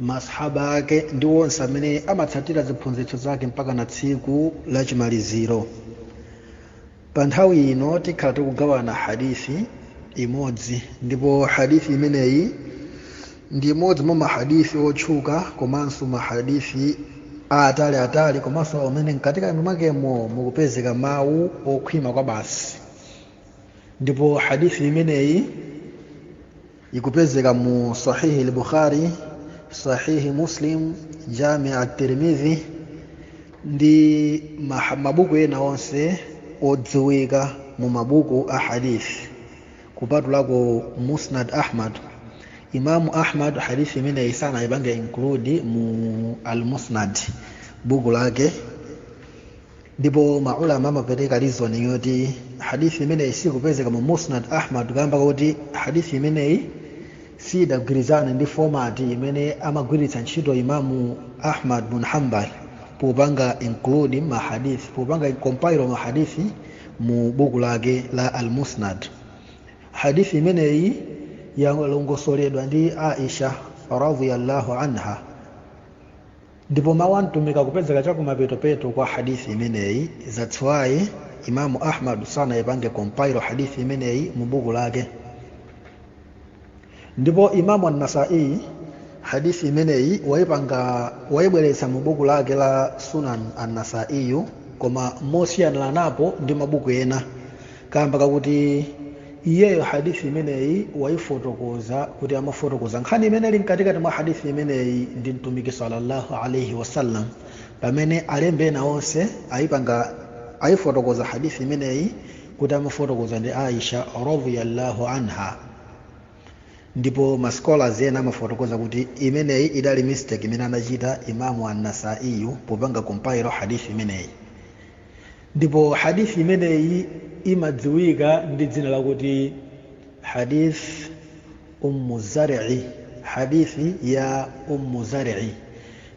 masahaba ake ndi onse amene amatsatira ziphunzitso zake mpaka na tsiku la chimaliziro pa nthawi ino tikhala tikugawana hadithi imodzi ndipo hadithi imeneyi ndi imodzi mwa mahadithi otchuka komanso mahadithi aatali atali komanso amene mkatikati mwakemo mukupezeka mawu okhwima kwa basi ndipo hadithi imeneyi ikupezeka mu sahihi al-bukhari sahihi muslim jami at-tirmidhi ndi maha- mabuku ena onse odziwika mu mabuku a hadith kupatulako musnad ahmad imamu ahmad hadith imeneyi sanaipange include mu al-musnad buku lake ndipo maulama amapereka reason yoti hadithi imeneyi sikupezeka mu musnad ahmad kamba kuti hadithi imeneyi sidagwirizane ndi format imene amagwiritsa ntchito imamu ahmad bun hambal popanga include mahadith popanga compile mahadithi mu buku lake la almusnad hadithi imeneyi yalongosoledwa ndi aisha radhiyallahu anha ndipo mawu a mtumiki akupezeka chakumapetopeto kwa hadithi imeneyi that's why imamu ahmad sanayipange compile hadithi imeneyi mu buku lake ndipo imamu an-nasai hadithi imeneyi wayipanga wayibweretsa mu buku lake la sunan an-nasaiyu koma mosiyaniranapo ndi mabuku ena kamba kakuti iyeyo hadithi imeneyi wayifotokoza kuti amafotokoza nkhani imene ili mkatikati mwa hadithi imeneyi ndi mtumiki sallallahu alaihi wasallam pamene alembi ena onse ayipanga ayifotokoza hadithi imeneyi kuti amafotokoza ndi aisha radhiyallahu anha ndipo mascholars ena amafotokoza kuti imeneyi idali mistake imene anachita imamu annasaiyu popanga compile hadithi imeneyi ndipo hadith imeneyi imadziwika ndi dzina lakuti hadith ummu zari hadithi ya ummu zari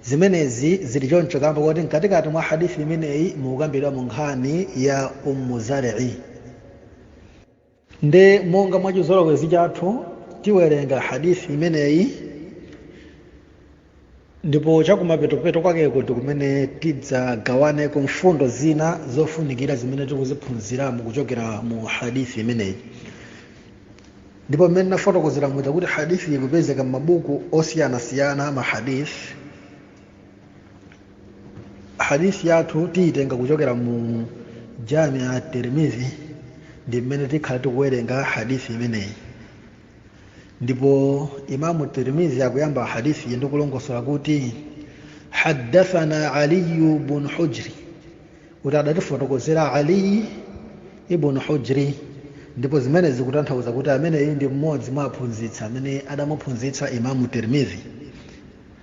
zimenezi zili choncho kamba kuti mkatikati mwa hadithi imeneyi mukukambidwamo nkhani ya ummu zari nde monga mwa chizolowezi chathu tiwerenga hadithi imeneyi ndipo chakumapetopeto kwakeko ndi kumene tidzagawaneko mfundo zina zofunikira zimene tikuziphunziramo kuchokera mu hadithi imeneyi ndipo mmene ndinafotokozera muja kuti hadithi ikupezeka m'mabuku osiyanasiyana a mahadithi hadisi yathu tiyitenga kuchokera mu jamia ya tirmidhi ndi mmene tikhala tikuwerenga hadisi imeneyi ndipo imamu tirmidhi akuyamba hadisi iyi ndikulongosola kuti haddathana aliyu bun hujri kuti adatifotokozera aliyi ibn hujri ndipo zimenezi zikutanthauza kuti ameneyu ndi mmodzi mwa aphunzitsi amene adamuphunzitsa imamu tirmidhi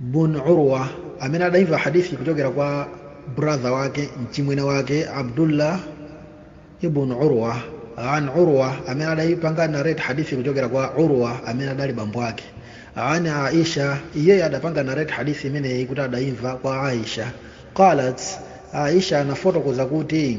bun urwa amene adayimva hadithi kuchokera kwa brother wake mchimwene wake abdullah ibn urwa an urwa amene adayipanga narate hadithi kuchokera kwa urwa amene adali bambo ake an aisha iyeyo adapanga narate hadithi imeneyi kuti adayimva kwa aisha qalat aisha anafotokoza kuti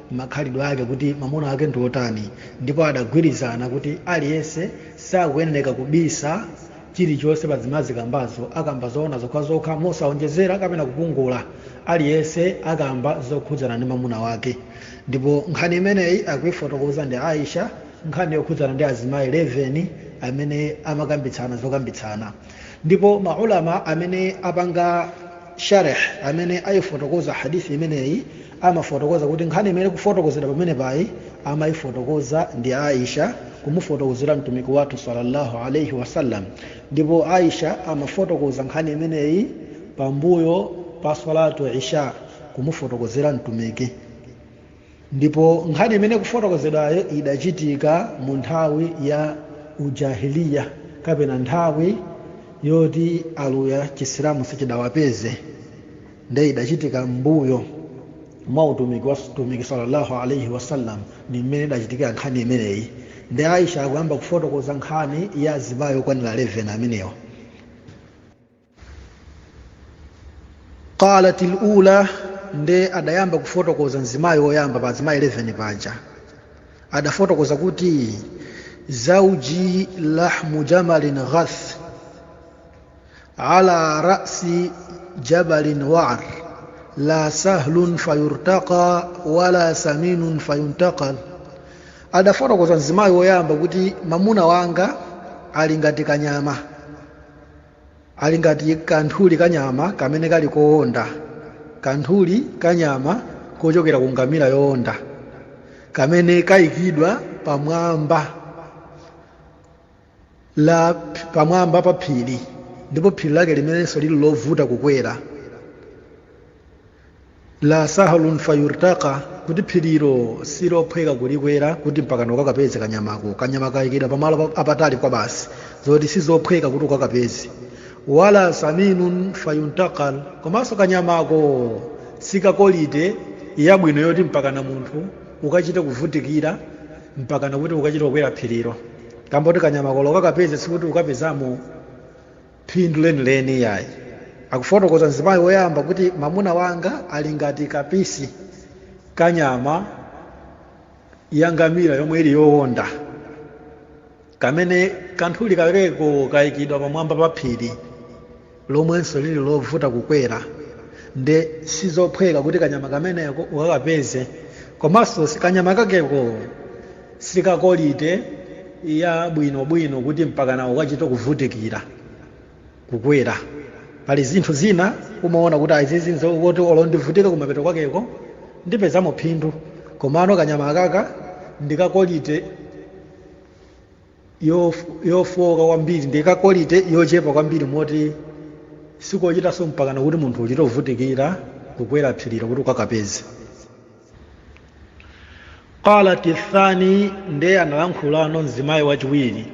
makhalidwe ake kuti mamuna wake ndi wotani ndipo adagwirizana kuti aliyense sakuyenereka kubisa chilichonse pa zimene azikambazo akamba zoona zokhazokha mosaonjezera kapena kupungula aliyense akamba zokhudzana ndi mamuna wake ndipo nkhani imeneyi akuifotokoza ndi aisha nkhani yokhudzana ndi azimayi 11 amene amakambitsana zokambitsana ndipo maulama amene apanga sharh amene ayifotokoza hadisi imeneyi amafotokoza kuti nkhani imene ikufotokozedwa pameneapayi amayifotokoza ndi aisha kumufotokozera mtumiki wathu sallallahu alaihi wasallam ndipo aisha amafotokoza nkhani imeneyi pambuyo pa salatu isha kumufotokozera mtumiki ndipo nkhani imene ikufotokozedwayo idachitika mu nthawi ya ujahiliya kapena nthawi yoti aluya chisilamu sichidawapeze nde idachitika mbuyo mwa utumiki wa mtumiki sallallahu alaihi wasallam ndi mmene idachitikira nkhani imeneyi nde aisha akuyamba kufotokoza nkhani ya azimayi okwanira 11 amenewa qalat al ula nde adayamba kufotokoza mzimayi woyamba pa azimayi 11 paja adafotokoza kuti zauji lahmu jamalin ghath ala rasi jabalin waar la sahlun fayurtaqa wala saminun fayuntaqal adafotokoza mzimayi woyamba kuti mamuna wanga ali ngati kanyama ali ngati kanthuli kanyama kamene kali koonda kanthuli kanyama kochokera ku ngamira yoonda kamene kayikidwa pamwamba la pamwamba pa phiri ndipo phiri lake limenenso lili lovuta kukwera la sahlun fayurtaqa kuti phirilo silophweka kulikwera kuti mpakana ukakapeze kanyamako kanyama kayikidwa pamalo apatali kwabasi zoti sizophweka kuti ukakapeze wala saminun fayuntaqal komanso kanyamako si ka quality yabwino yoti mpakana munthu ukachite kuvutikira mpakana kuti ukachite kukwera phirilo kamba koti kanyamako olo ukakapeze sikuti ukapezamo phindu lenileni iyayi akufotokoza mzimayi woyamba kuti mamuna wanga ali ngati kapisi ka nyama ya ngamira yomwe ili yowonda kamene kanthuli kakeko kayikidwa pamwamba pa phiri lomwenso lili lovuta kukwera nde sizophweka kuti kanyama kameneko ukakapeze komanso si- kanyama kakeko si ka quality ya bwinobwino kuti mpakana ukachite kuvutikira kukwera pali zinthu zina umaona kuti a izizi nzoti olo ndivutike kumapeto kwakeko ndipezamo phindu komano kanyama akaka ndi ka quality yofowoka kwambiri ndi ka quality yochepa kwambiri moti sikochitanso mpakana kuti munthu uchite kuvutikira kukwera phirilo kuti ukakapeze qalat thani ndiye analankhulano mzimayi wachiwiri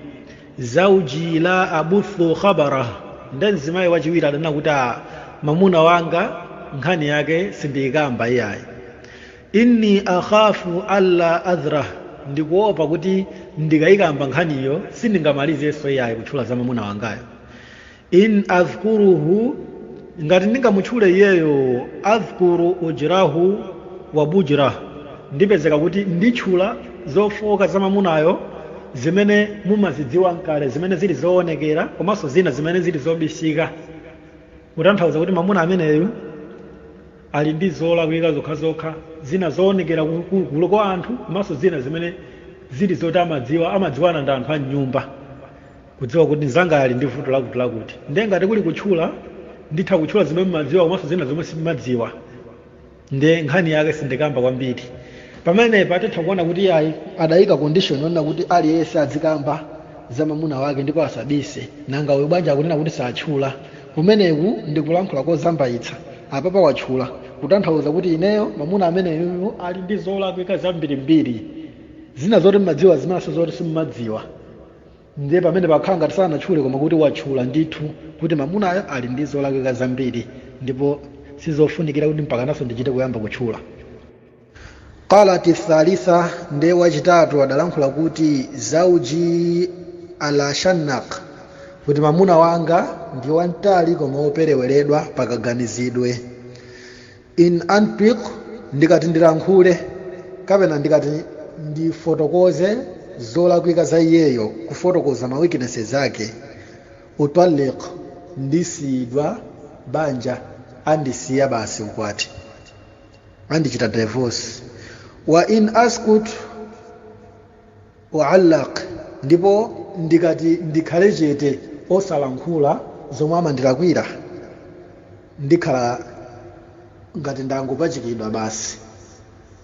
zauji la abuthu khabarah nde mzimayi wachiwiri adanena kuti a mamuna wanga nkhani yake sindiyikamba iyayi inni akhafu alla adharah ndikuopa kuti ndikayikamba nkhaniyo sindingamalizenso iyayi kutchula za mamuna wangayo in adhkuruhu ngati ndingamutchule iyeyo adhkuru ujrahu wa bujrah ndipezeka kuti nditchula zofooka za mamunayo zimene mumazidziwa nkale zimene zili zoonekera komanso zina zimene zili zobisika kutanthauza kuti mamuna ameneyu ali ndi zolakwika zokhazokha, zina zoonekera ku gulu kwa anthu komanso zina zimene zili zoti amadziwa, amadziwana ndi anthu a m'nyumba kudziwa kuti mnzangayo ali ndi vuto lakutilakuti. Ndiye ngati kuli kutchula, nditha kutchula zimene m'madziwa komanso zina zomwe sim'madziwa ndiye nkhani yake sindikamba kwambiri. Pamenepa titha kuona kuti iyayi adaika condition yonena kuti aliyense adzikamba za mamuna wake ndipo asabise, nanga uyu bwanji akunena kuti satchula? kumeneku ndi kulankhula kozambaitsa apapa watchula kutanthauza kuti ineyo mamuna ameneyu ali ndi zolakwika zambirimbiri zina zoti mmadziwa zinanso zoti simmadziwa ndiye pamenepa akukhala ngati sanatchule koma kuti watchula ndithu kuti mamunayo ali ndi zolakwika zambiri ndipo sizofunikira kuti mpakananso ndichite kuyamba kutchula qalat thalitha nde wachitatu adalankhula kuti zauji ala shannak kuti mamuna wanga ndi wamtali koma wopereweredwa pakaganizidwe in antiq ndikati ndilankhule kapena ndikati ndifotokoze zolakwika za iyeyo kufotokoza ma weaknesses ake utallaq ndisiyidwa banja andisiya basi ukwati andichita divorce wa in askut u'allaq ndipo ndikati ndikhale chete osalankhula zomwe amandilakwira ndikhala ngati ndangopachikidwa basi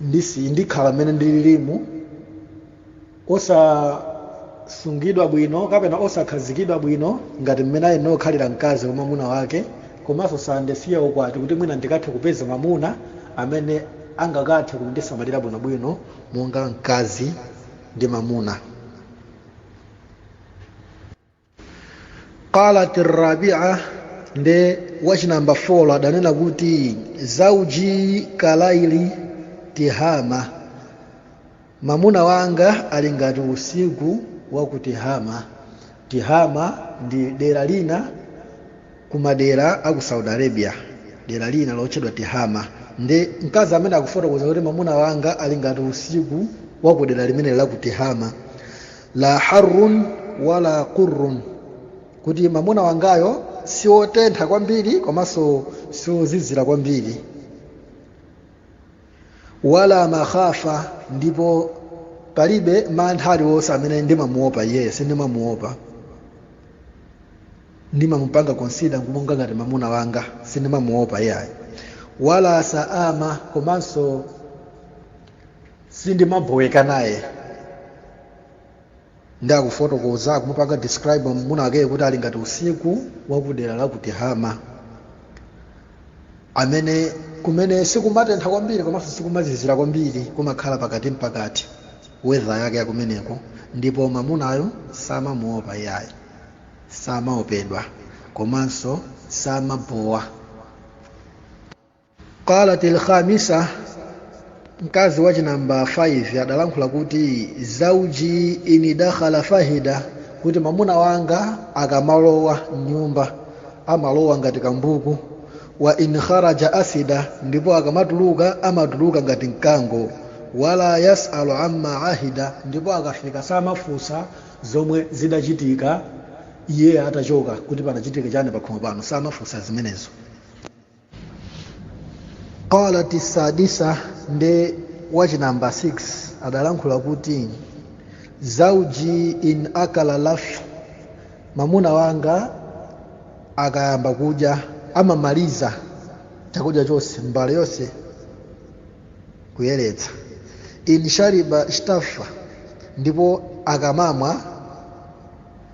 ndisi ndikhala mmene ndililimu osasungidwa bwino kapena osakhazikidwa bwino ngati mmene ayenera kukhalira mkazi kwa mwamuna wake komanso sandisiya ukwati kuti mwina ndikathe kupeza mwamuna amene angakathe kundisamalira bwinobwino monga mkazi ndi mwamuna qalat rabia nde wachinamba 4 adanena kuti zauji kalaili tihama mamuna wanga ali ngati usiku wa ku tihama tihama ndi dera lina ku madera aku saudi arabia dera lina lotchedwa tihama nde mkazi ameneyu akufotokoza kuti mamuna wanga ali ngati usiku wa ku dera limeneli la ku tihama la harrun wala qurrun kuti mamuna wangayo si otentha kwambiri komanso si ozizira kwambiri wala makhafa ndipo palibe mantha aliwonse amene ndimamuopa iyeyo sindimamuopa ndimamupanga konsida monga ngati mamuna wanga sindimamuopa iyayi wala saama komanso sindimaboweka naye nde akufotokoza akumupanga describe mwamuna wakeyo kuti ali ngati usiku wakudera la kutihama amene kumene sikumatentha kwambiri komanso sikumazizira kwambiri kumakhala pakati mpakati wedha yake yakumeneko ndipo mwamunayo samamuopa iyayi samaopedwa komanso samabowa qalat alkhamisa mkazi wa chinamba 5 adalankhula kuti zauji in dakhala fahida kuti mamuna wanga akamalowa mnyumba amalowa ngati kambuku wa in kharaja asida ndipo akamatuluka amatuluka ngati mkango wala yasalu amma ahida ndipo akafika samafunsa zomwe zidachitika iye atachoka kuti panachitika chani pakhomo pano samafunsa zimenezo qalat sadisa nde wachi namba 6 adalankhula kuti zauji in akala laffa mamuna wanga akayamba kudya amamaliza chakudya chonse mbale yonse kuyeretsa in shariba shtaffa ndipo akamamwa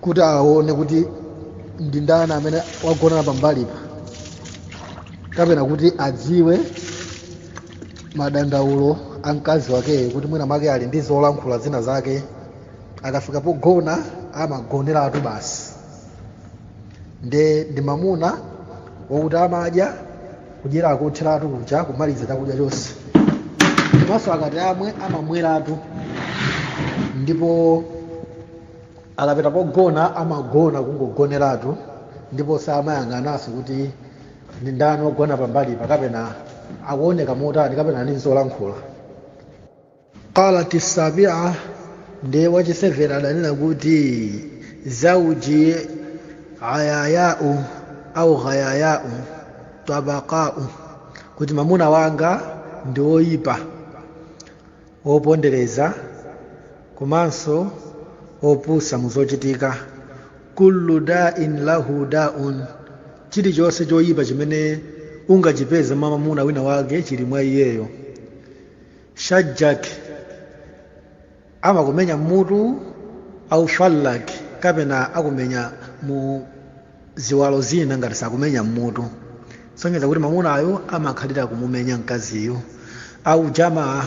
kuti aone kuti ndi ndani amene wagonana pambalipa kapena kuti adziwe madandaulo a mkazi wakeyo kuti mwina make ali ndi zolankhula zina zake akafika pogona amagoneratu basi nde ndi mamuna wakuti amadya kudyera kotheratu kuja kumaliza chakudya chonse komanso akati amwe amamweratu ndipo Akapita pogona amagona kungogoneratu ndipo samayang'ananso kuti ndi ndani wogona pambalipa kapena akuoneka motani kapena ali n'zolankhula. Qalat as-sabi'a Ndiye wa chi 7 adanena kuti, Zawji ayaya'u aw ghayaya'u tabaqa'u, Kuti mamuna wanga ndi woipa, wopondereza komanso opusa mu zochitika kullu da'in lahu da'un chilichonse choyipa chimene ungachipeze mwa mamuna wina wake chili mwa iyeyo shajjak amakumenya mmutu au fallak kapena akumenya mu ziwalo zina ngati sakumenya mmutu sonyeza kuti mamunayu amakhalira kumumenya mkaziyu au jamaa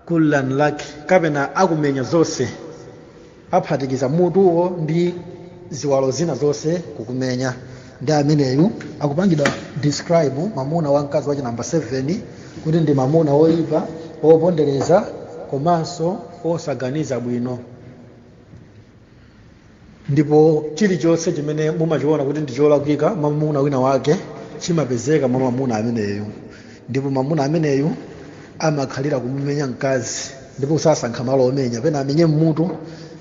kullan lak kapena akumenya zonse aphatikiza mutuwo ndi ziwalo zina zonse kukumenya ndi ameneyu akupangidwa describe mamuna wa mkazi wa chi namba 7 kuti ndi mamuna woyipa wopondereza komanso wosaganiza bwino ndipo chilichonse chimene mumachiona kuti ndi cholakwika mwa mwamuna wina wake chimapezeka mwa mamuna ameneyu ndipo mamuna ameneyu amakhalira kumumenya mkazi ndipo sasankha malo omenya pena amenye mmutu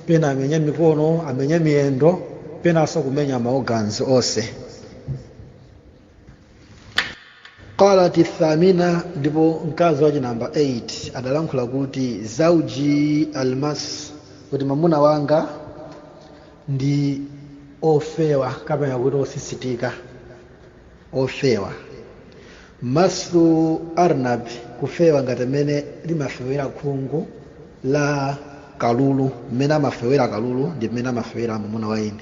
pena amenye mikono amenye miyendo penanso kumenya ma organs onse qalat athamina ndipo mkazi wachi namba 8 adalankhula kuti zauji almassu kuti mamuna wanga ndi ofewa kapena kuti osisitika ofewa massu arnab kufewa ngati mmene limafewera khungu la kalulu mmene amafewera kalulu ndi mmene amafewera mamuna wa ine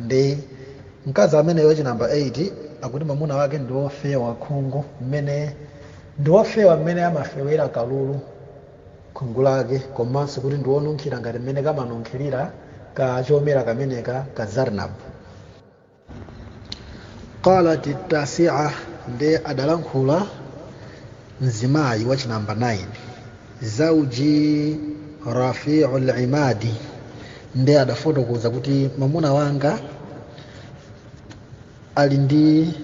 ndi mkazi ameneyo wachinamba 8 akuti mamuna wake ndi wofewa khungu mmene ndi wofewa mmene amafewera kalulu khungu lake komanso kuti ndi wonunkhira ngati mmene kamanunkhirira ka chomera kameneka ka zarnab qalat tasia nde adalankhula mzimayi wa chinamba 9 zauji rafiu limadi nde adafotokoza kuti mamuna wanga ali ndi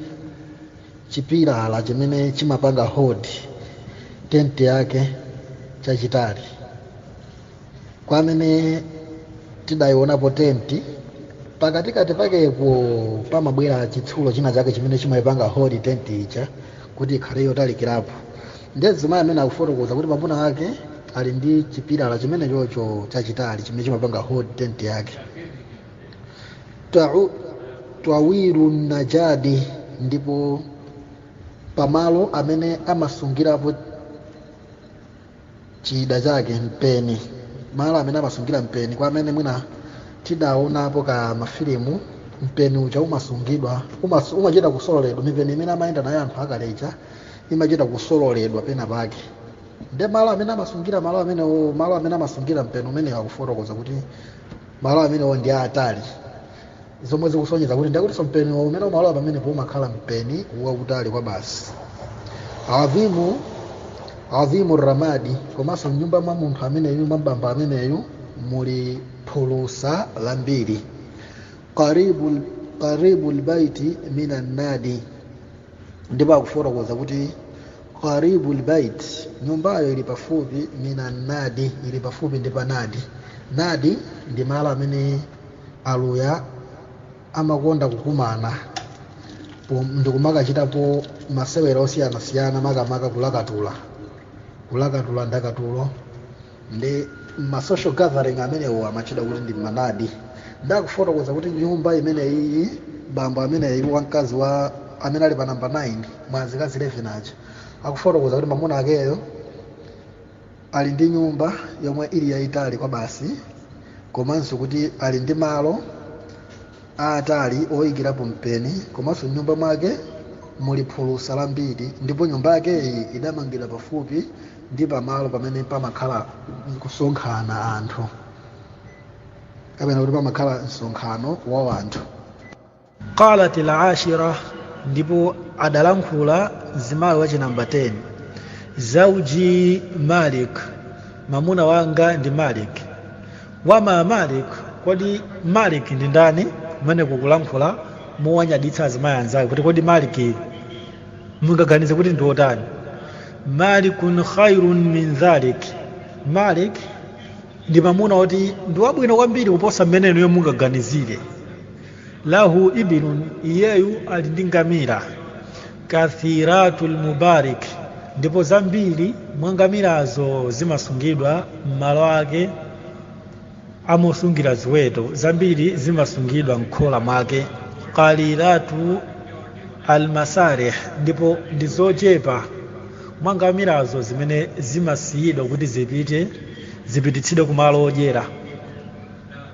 chipilala chimene chimapanga hold tenti yake chachitali kwa amene tidayionapo tenti pakatikati pakepo pamabwera chitsulo china chake chimene chimayipanga hold tenti ija kuti ikhale yotalikirapo ndiye mzimayi amene akufotokoza kuti mwamuna wake ali ndi chipilala chimene chocho chachitali chimene chimapanga hold tenti yake Tau- twawiru najadi ndipo pamalo amene amasungirapo chida chake mpeni malo amene amasungira mpeni kwa amene mwina tidaonapo ka mafilimu mpeni uja umasungidwa umas, umachita kusololedwa mipeni imene amayenda nayo anthu akale aja imachita kusololedwa pena pake nde malo amene amasungira malo amene malo amene amasungira mpeni umenewo akufotokoza kuti malo amenewo ndi aatali zomwe zikusonyeza kuti ndiye kutinso mpeni umene umalowa pamenepo umakhala mpeni wautali kwa basi adhimu adhimu ramadi komanso mnyumba mwa munthu ameneyu mwa bambo ameneyu muli phulusa lambiri qaribu qaribu lbaiti min annadi ndipo akufotokoza kuti qaribu lbait nyumbayo ili pafupi min annadi ili pafupi ndi panadi nadi ndi malo amene Aluya amakonda kukumana pom- ndikumakachitapo masewera osiyanasiyana makamaka kulakatula kulakatula ndakatulo ndi ma social gathering amenewo amatchedwa kuti ndi manadi nde akufotokoza kuti nyumba imeneyi bambo ameneyi wa mkazi amene ali pa namba 9 mwa azikazi 11 aja akufotokoza kuti mamuna akeyo ali ndi nyumba yomwe ili yayitali kwabasi komanso kuti ali ndi malo aatali oyikirapo mpeni komanso m'nyumba mwake muli phulusa lambiri ndipo nyumba yakeyi idamangidwa pafupi ndi pamalo pamene pamakhala kusonkhana anthu kapena kuti pamakhala msonkhano wa anthu qalat al-ashira ndipo adalankhula mzimayi wachi namba 10 zauji malik mamuna wanga ndi malik wama malik kodi malik ndi ndani kumene kukulankhula mowanyaditsa azimayi anzake kuti kodi malik mungaganize kuti ndi otani malikun khairun min dhalik malik ndi mamuna oti ndi wabwino kwambiri kuposa mmene inuyo mungaganizire lahu ibilun iyeyu ali ndi ngamira kathiratul mabarik ndipo zambiri mwa ngamirazo zimasungidwa m'malo ake amosungira ziweto zambiri zimasungidwa mkhola mwake qalilatu almasarih ndipo ndi zochepa mwa ngamirazo zimene zimasiyidwa kuti zipite zipititsidwe kumalo odyera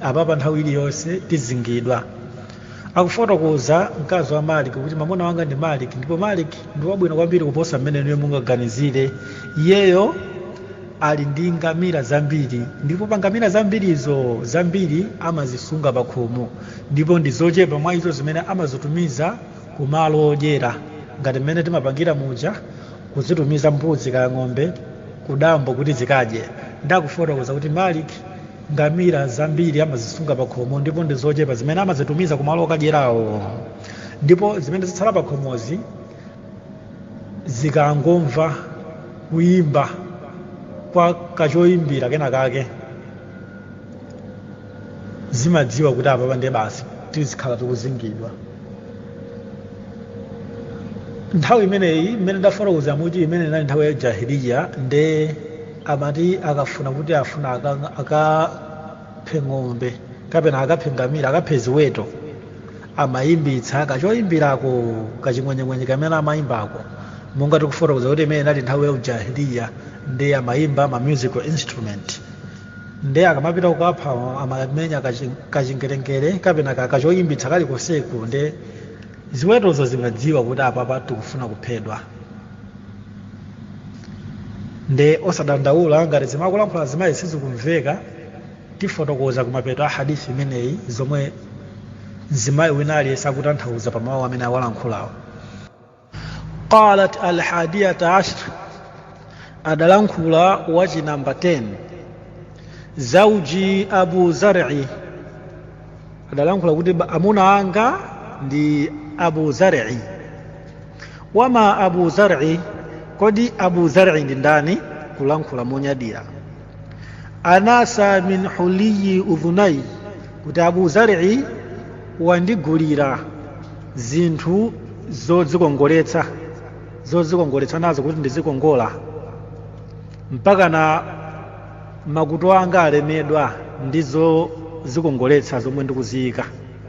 apa pa nthawi iliyonse tizingidwa akufotokoza mkazi wa maliki kuti mamuna wanga ndi maliki ndipo maliki ndi wabwino kwambiri kuposa mmene inuyo mungaganizire iyeyo ali ndi ngamira zambiri ndipo pa ngamira zambirizo zambiri amazisunga pa khomo ndipo ndi zochepa mwa izo zimene amazitumiza ku malo odyera ngati mmene timapangira muja kuzitumiza mbuzi kaya ng'ombe kudambo kuti zikadye nde akufotokoza kuti maliki ngamira zambiri amazisunga pakhomo ndipo ndi zochepa zimene amazitumiza kumalo okadyerawo ndipo zimene zitsala pakhomozi zikangomva kuyimba kwa kachoyimbira kena kake zimadziwa kuti apapa ndiye basi tizikhala tikuzingidwa nthawi imeneyi imene ndafotokoza kuti imene inali nthawi ya jahiliya nde amati akafuna kuti afuna aka- akaphe ng'ombe kapena akaphe ngamira akaphe ziweto amayimbitsa kachoyimbirako kaching'wenyeng'wenye kamene amayimbako monga tikufotokoza kuti imene inali nthawi ya ujahiliya nde amayimba ma musical instrument nde akamapita kukapha amamenya kachi- kachingerengere kapena ka- kachoyimbitsa kalikonseko nde ziwetozo zimadziwa kuti apapa tikufuna kuphedwa nde osadandaula ngati zimene akulankhula azimayizi sizikumveka tifotokoza kumapeto kwa hadithi imeneyi zomwe mzimayi wina aliyense akutanthauza pa mawu amene awalankhulawo qalat alhadiyata ashr adalankhula wachinamba 10 zauji abu zari adalankhula kuti amuna anga ndi abu zari wama abu zar'i kodi abu zar'i ndi ndani kulankhula monyadira anasa min huliyi udhunayya kuti abu zar'i wandigulira zinthu zodzikongoletsa zodzikongoletsa nazo kuti ndizikongola mpaka na makutu anga alemedwa ndi zozikongoletsa zomwe ndikuziyika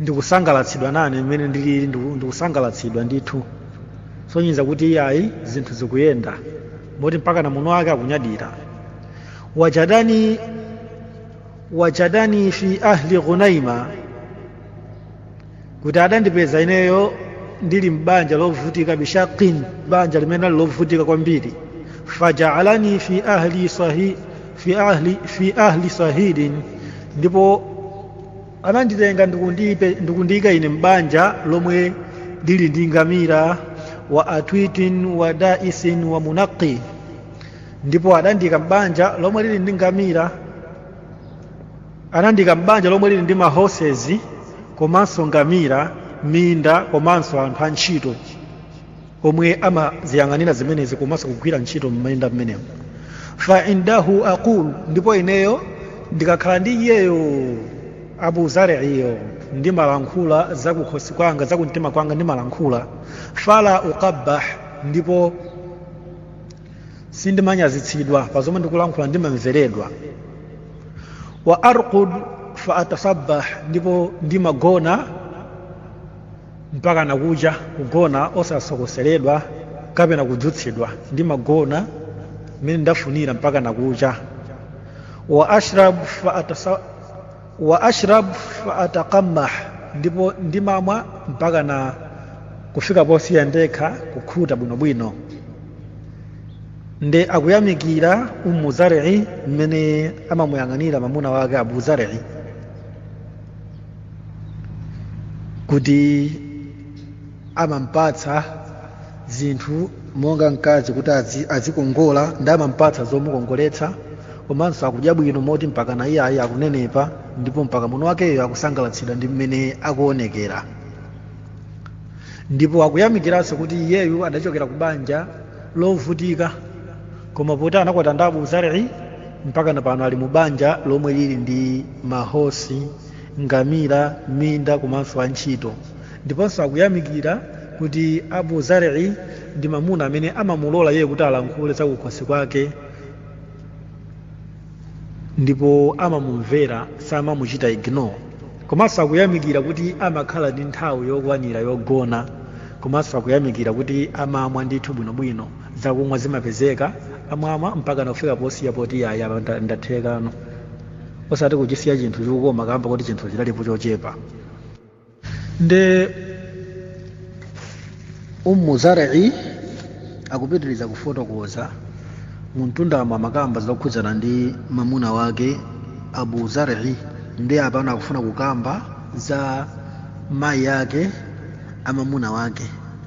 ndikusangalatsidwa nane mmene ndilili ndiku- ndikusangalatsidwa ndithu sonyeza kuti iyayi zinthu zikuyenda moti mpaka na mamuna wake akunyadira wajadani wajadani fi ahli ghunaima kuti adandipeza ineyo ndili m'banja lovutika bishaqin banja limene ali lovutika kwambiri fajaalani fi ahli sahi fi ahli fi ahli sahilin ndipo ananditenga ndikundipe- ndikundiyika ine m'banja lomwe lili ndi ngamira wa atwitin wa daisin wa munaqi ndipo adandiyika m'banja lomwe lili ndi ngamira anandiyika m'banja lomwe lili ndi mahosezi komanso ngamira minda komanso anthu antchito omwe amaziyang'anira zimenezi komanso kugwira ntchito m'minda m'menemo fa indahu aqul ndipo ineyo ndikakhala ndi iyeyo abu zariyo ndimalankhula zakukhosi kwanga zakumtima kwanga ndimalankhula fala uqabbah ndipo sindimanyazitsidwa pa zomwe ndikulankhula ndimamveredwa wa arqud fa atasabbah ndipo ndimagona mpaka nakucha kugona osasokoseredwa kapena kudzutsidwa ndimagona mmene ndafunira mpaka nakucha wa ashrab fa atasa wa ashrab fa ataqammah ndipo ndimamwa mpaka na kufika posiya ndekha kukhuta bwinobwino nde akuyamikira umu zari'i mmene amamuyang'anira mamuna wake abu zari'i kuti amampatsa zinthu monga mkazi kuti azi- azikongola ndi amampatsa zomukongoletsa komanso akudya bwino moti mpaka na iyayi akunenepa ndipo mpaka mamuna wakeyo akusangalatsidwa ndi mmene akuonekera ndipo akuyamikiranso kuti iyeyu adachokera ku banja lovutika koma poti anakwatiwa ndi abu zar'i mpaka na pano ali mu banja lomwe lili ndi mahosi ngamira minda komanso antchito ndiponso akuyamikira kuti abu zar'i ndi mamuna amene amamulola iye kuti alankhule zakukhosi kwake ndipo amamumvera samamuchita ignore komanso akuyamikira kuti amakhala ndi nthawi yokwanira yogona komanso akuyamikira kuti amamwa ndithu bwinobwino zakumwa zimapezeka amamwa mpaka nakufika posiya poti yayi apa ndathekano osati kuchisiya chinthu chikukoma kamba kuti chinthu chidalipo chochepa nde ummu zar'i akupitiriza kufotokoza mumtundamo amakamba zokhudzana ndi mamuna wake abu zar'i nde apano akufuna kukamba za mayi ake a mamuna wake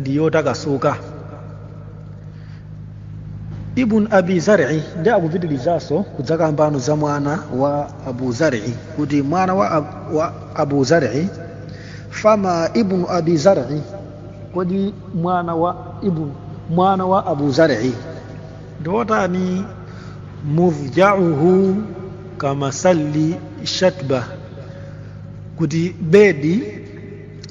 ndi yotakasuka ibn abi zari ndi akupitirizaso kudzakambano za mwana wa abu zari kuti mwana wa, ab, wa abu zari fama ibn abi zari kodi mwana wa ibn mwana wa abu zari ndi wotani mudjauhu kamasalli shatba kuti bedi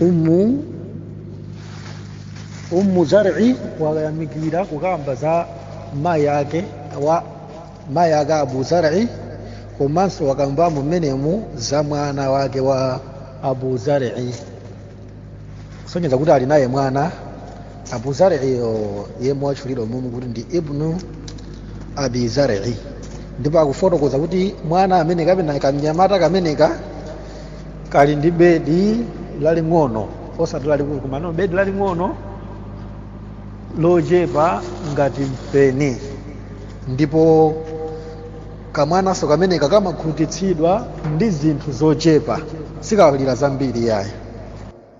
umu ummu zar'i wayamikira kukamba za mayi ake wa mayi ake abu zar'i komanso wakambamo mmenemu za mwana wake wa abu zar'i kusonyeza kuti ali naye mwana abu zar'iyo yemwe watchulidwa mumu kuti ndi ibnu abi zar'i ndipo akufotokoza kuti mwana amene kapena kamnyamata kameneka kali ndi bedi laling'ono osati lalikulu komano bedi laling'ono lochepa ngati mpeni ndipo kamwananso kameneka kamakhutitsidwa ndi zinthu zochepa sikalira zambiri yayi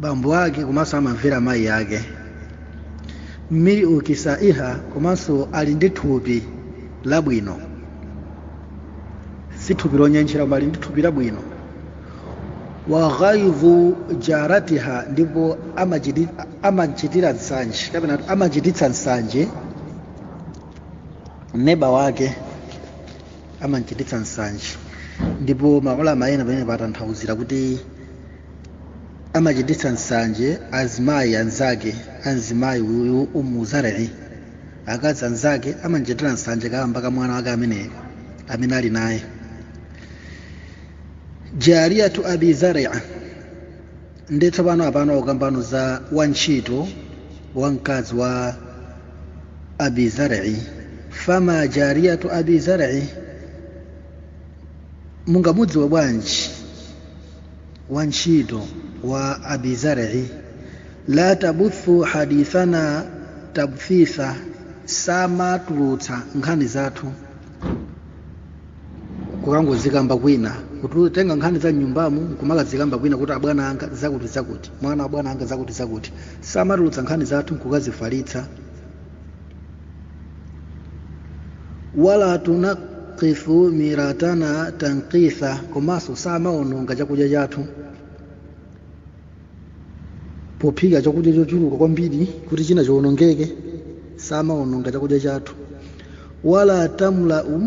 bambo ake komanso amamvera mayi ake mil'u kisaiha komanso ali ndi thupi labwino si thupi lonyentchera koma ali ndi thupi labwino wa ghaidhu jaratiha ndipo amachiti- amachitira nsanje kapena kuti amachititsa nsanje neba wake amachititsa nsanje ndipo maulama ena pamenepa atanthauzira kuti amachititsa nsanje azimayi anzake a mzimayi uyu ummu zar'i akazi anzake amamchitira nsanje kaamba ka mwana wake ameneyo amene ali naye jariyatu abi zar'i nde tsopano apano akukambano za wantchito wa mkazi wa abi zar'i fama jariyatu abi zar'i mungamudziwe bwanji wantchito wa abi zar'i la tabuthu hadithana tabthitha samatulutsa nkhani zathu kukangozikamba kwina kutenga nkhani za m'nyumbamo nkumakazikamba kwina kuti abwana anga zakuti zakuti mwana wa abwana anga zakuti zakuti samatulutsa nkhani zathu nkukazifalitsa wala tunakithu miratana tankitha komanso samaononga chakudya chathu pophika chakudya chochuluka kwambiri kuti china chionongeke samaononga chakudya chathu wala tamlau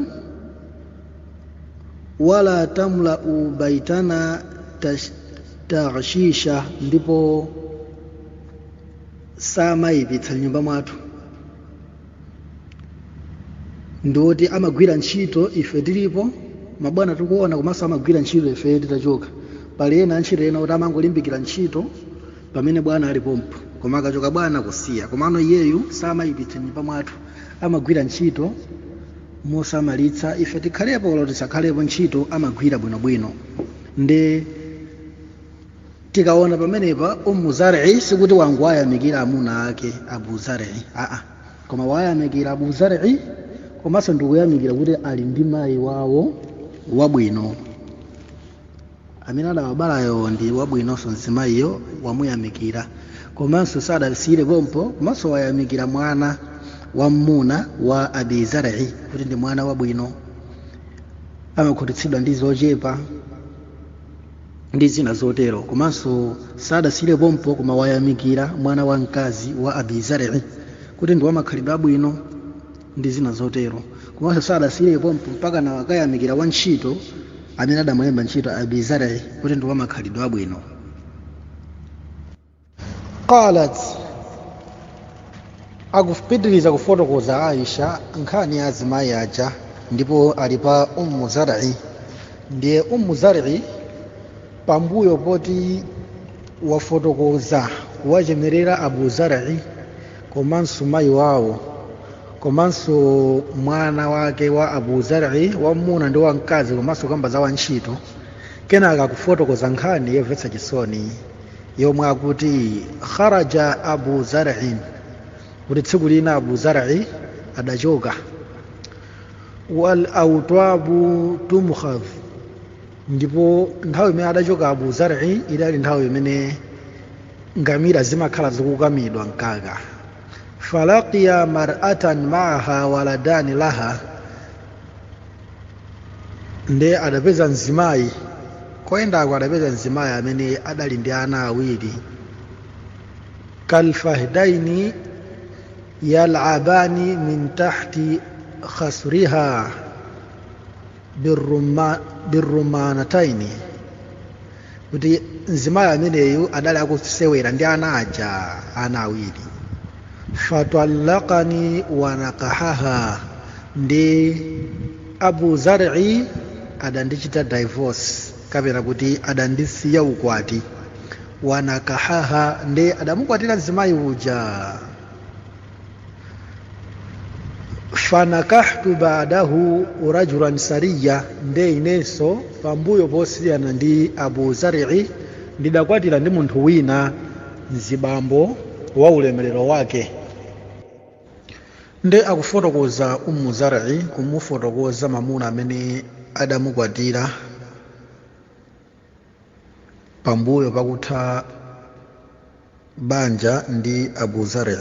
wala tamlau baitana tash- ta'shisha ndipo samayipitsa m'nyumba mwathu ndi woti amagwira ntchito ife tilipo mabwana tikuona komanso amagwira ntchito ife titachoka pali ena antchito ena kuti amangolimbikira ntchito pamene bwana ali pompo koma akachoka bwana kusiya komano iyeyu samayipitsa m'nyumba mwathu amagwira ntchito mosamalitsa ife tikhalepo olo tisakhalepo ntchito amagwira bwinobwino nde tikaona pamenepa ummu zar'i sikuti wangowayamikira amuna ake abu zar'i aa koma wayamikira abu zar'i komanso ndikuyamikira kuti ali ndi mayi wawo wabwino amene adawabalayo ndi wabwinonso mzimayiyo wamuyamikira komanso sadasiyire pompo komanso wayamikira mwana wam'muna wa abi zar'i kuti ndi mwana wabwino amakhutitsidwa ndi zochepa ndi zina zotero komanso sadasiyire pompo koma wayamikira mwana wa mkazi wa abi zarei kuti ndi wamakhalidwe abwino ndi zina zotero komanso sadasiyire pompo mpakana wakayamikira wantchito amene adamulemba ntchito abi zarei kuti ndi wamakhalidwe abwino qalat akupitiriza kufotokoza aisha nkhani ya azimayi aja ndipo ali pa ummu zari ndiye ummu zari pambuyo poti wafotokoza kuwachemerera abu zari komanso mayi wawo komanso mwana wake wa abu zari wamuna ndi wamkazi komanso kamba za wantchito kenaka akufotokoza nkhani yomvetsa chisoni yomwe akuti kharaja abu zar'in kuti tsiku lina abu zar'i adachoka wal autwabu tumkhadh ndipo nthawi imene adachoka abu zar'i idali nthawi imene ngamira zimakhala zikukamidwa mkaka falaqiya mar'atan ma'aha waladani laha nde adapeza mzimayi koyendako adapeza mzimayi amene adali ndi ana awiri kalfahdaini yalabani min tahti khasriha birrumanataini kuti mzimayi ameneyu adali akusewera ndi ana aja ana awiri fatallaqani wanakahaha ndi abu zari adandichita divorce kapena kuti adandisiya ukwati wanakahaha ndi adamukwatira mzimayi uja fanakahtu badahu rajulan sariya nde inenso pambuyo posiyana ndi abu zarii ndidakwatira ndi munthu wina mzibambo wa ulemerero wake nde akufotokoza ummu zarii kumufotokoza mamuna amene adamukwatira pambuyo pakutha banja ndi abu zari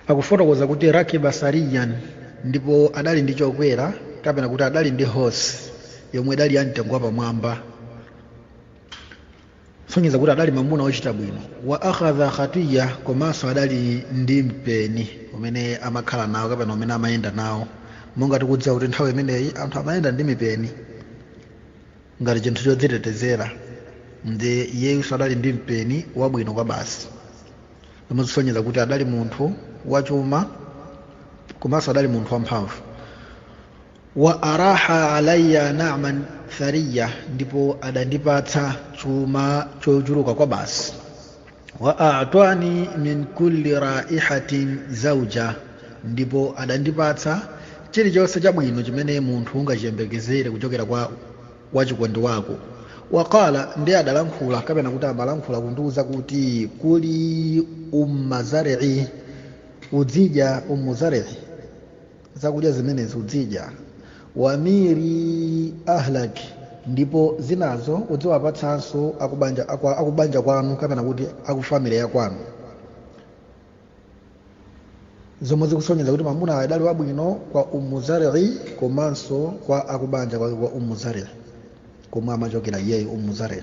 akufotokoza kuti rakiba sariyan ndipo adali ndi chokwera kapena kuti adali ndi hosi yomwe idali ya mtengo wapamwamba sonyeza kuti adali mamuna wochita bwino wa akhadha khatiya komanso adali ndi mpeni umene amakhala nawo kapena umene amayenda nawo monga tikudziwa kuti nthawi imeneyi anthu amayenda ndi mipeni ngati chinthu chodzitetezera nde iyenso adali ndi mpeni wabwino kwabasi zomwe zisonyeza kuti adali munthu wachuma komanso adali munthu wamphamvu wa araha alayya na'man thariya ndipo adandipatsa chuma chochuluka kwabasi wa atwani min kulli raihatin zauja ndipo adandipatsa chilichonse chabwino chimene munthu ungachiyembekezere kuchokera kwa wachikondi wako waqala nde adalankhula kapena kuti amalankhula kundiuza kuti kuli umma zari'i udzidya ummu zari'i zakudya zimenezi udzidya wamiri ahlak ndipo zinazo udziwapatsanso akubanja kwanu kapena kuti akufamily ya kwanu zomwe zikusonyeza kuti mamuna adali wabwino kwa umu zarii komanso kwa akubanja kwake kwa umu zarii komwe amachokera iyeyu umu zarii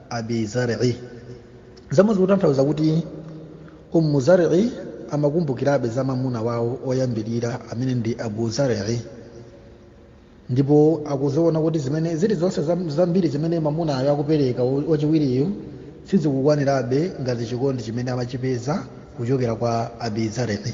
abi zar'i zomwe zikutanthauza kuti ummu zar'i amakumbukirabe za mamuna wawo oyambirira amene ndi abu zar'i ndipo akuziona kuti zimene zilizonse zambiri zimene mamunayo akupereka wachiwiriyo sizikukwanirabe ngati chikondi chimene amachipeza kuchokera kwa abi zar'i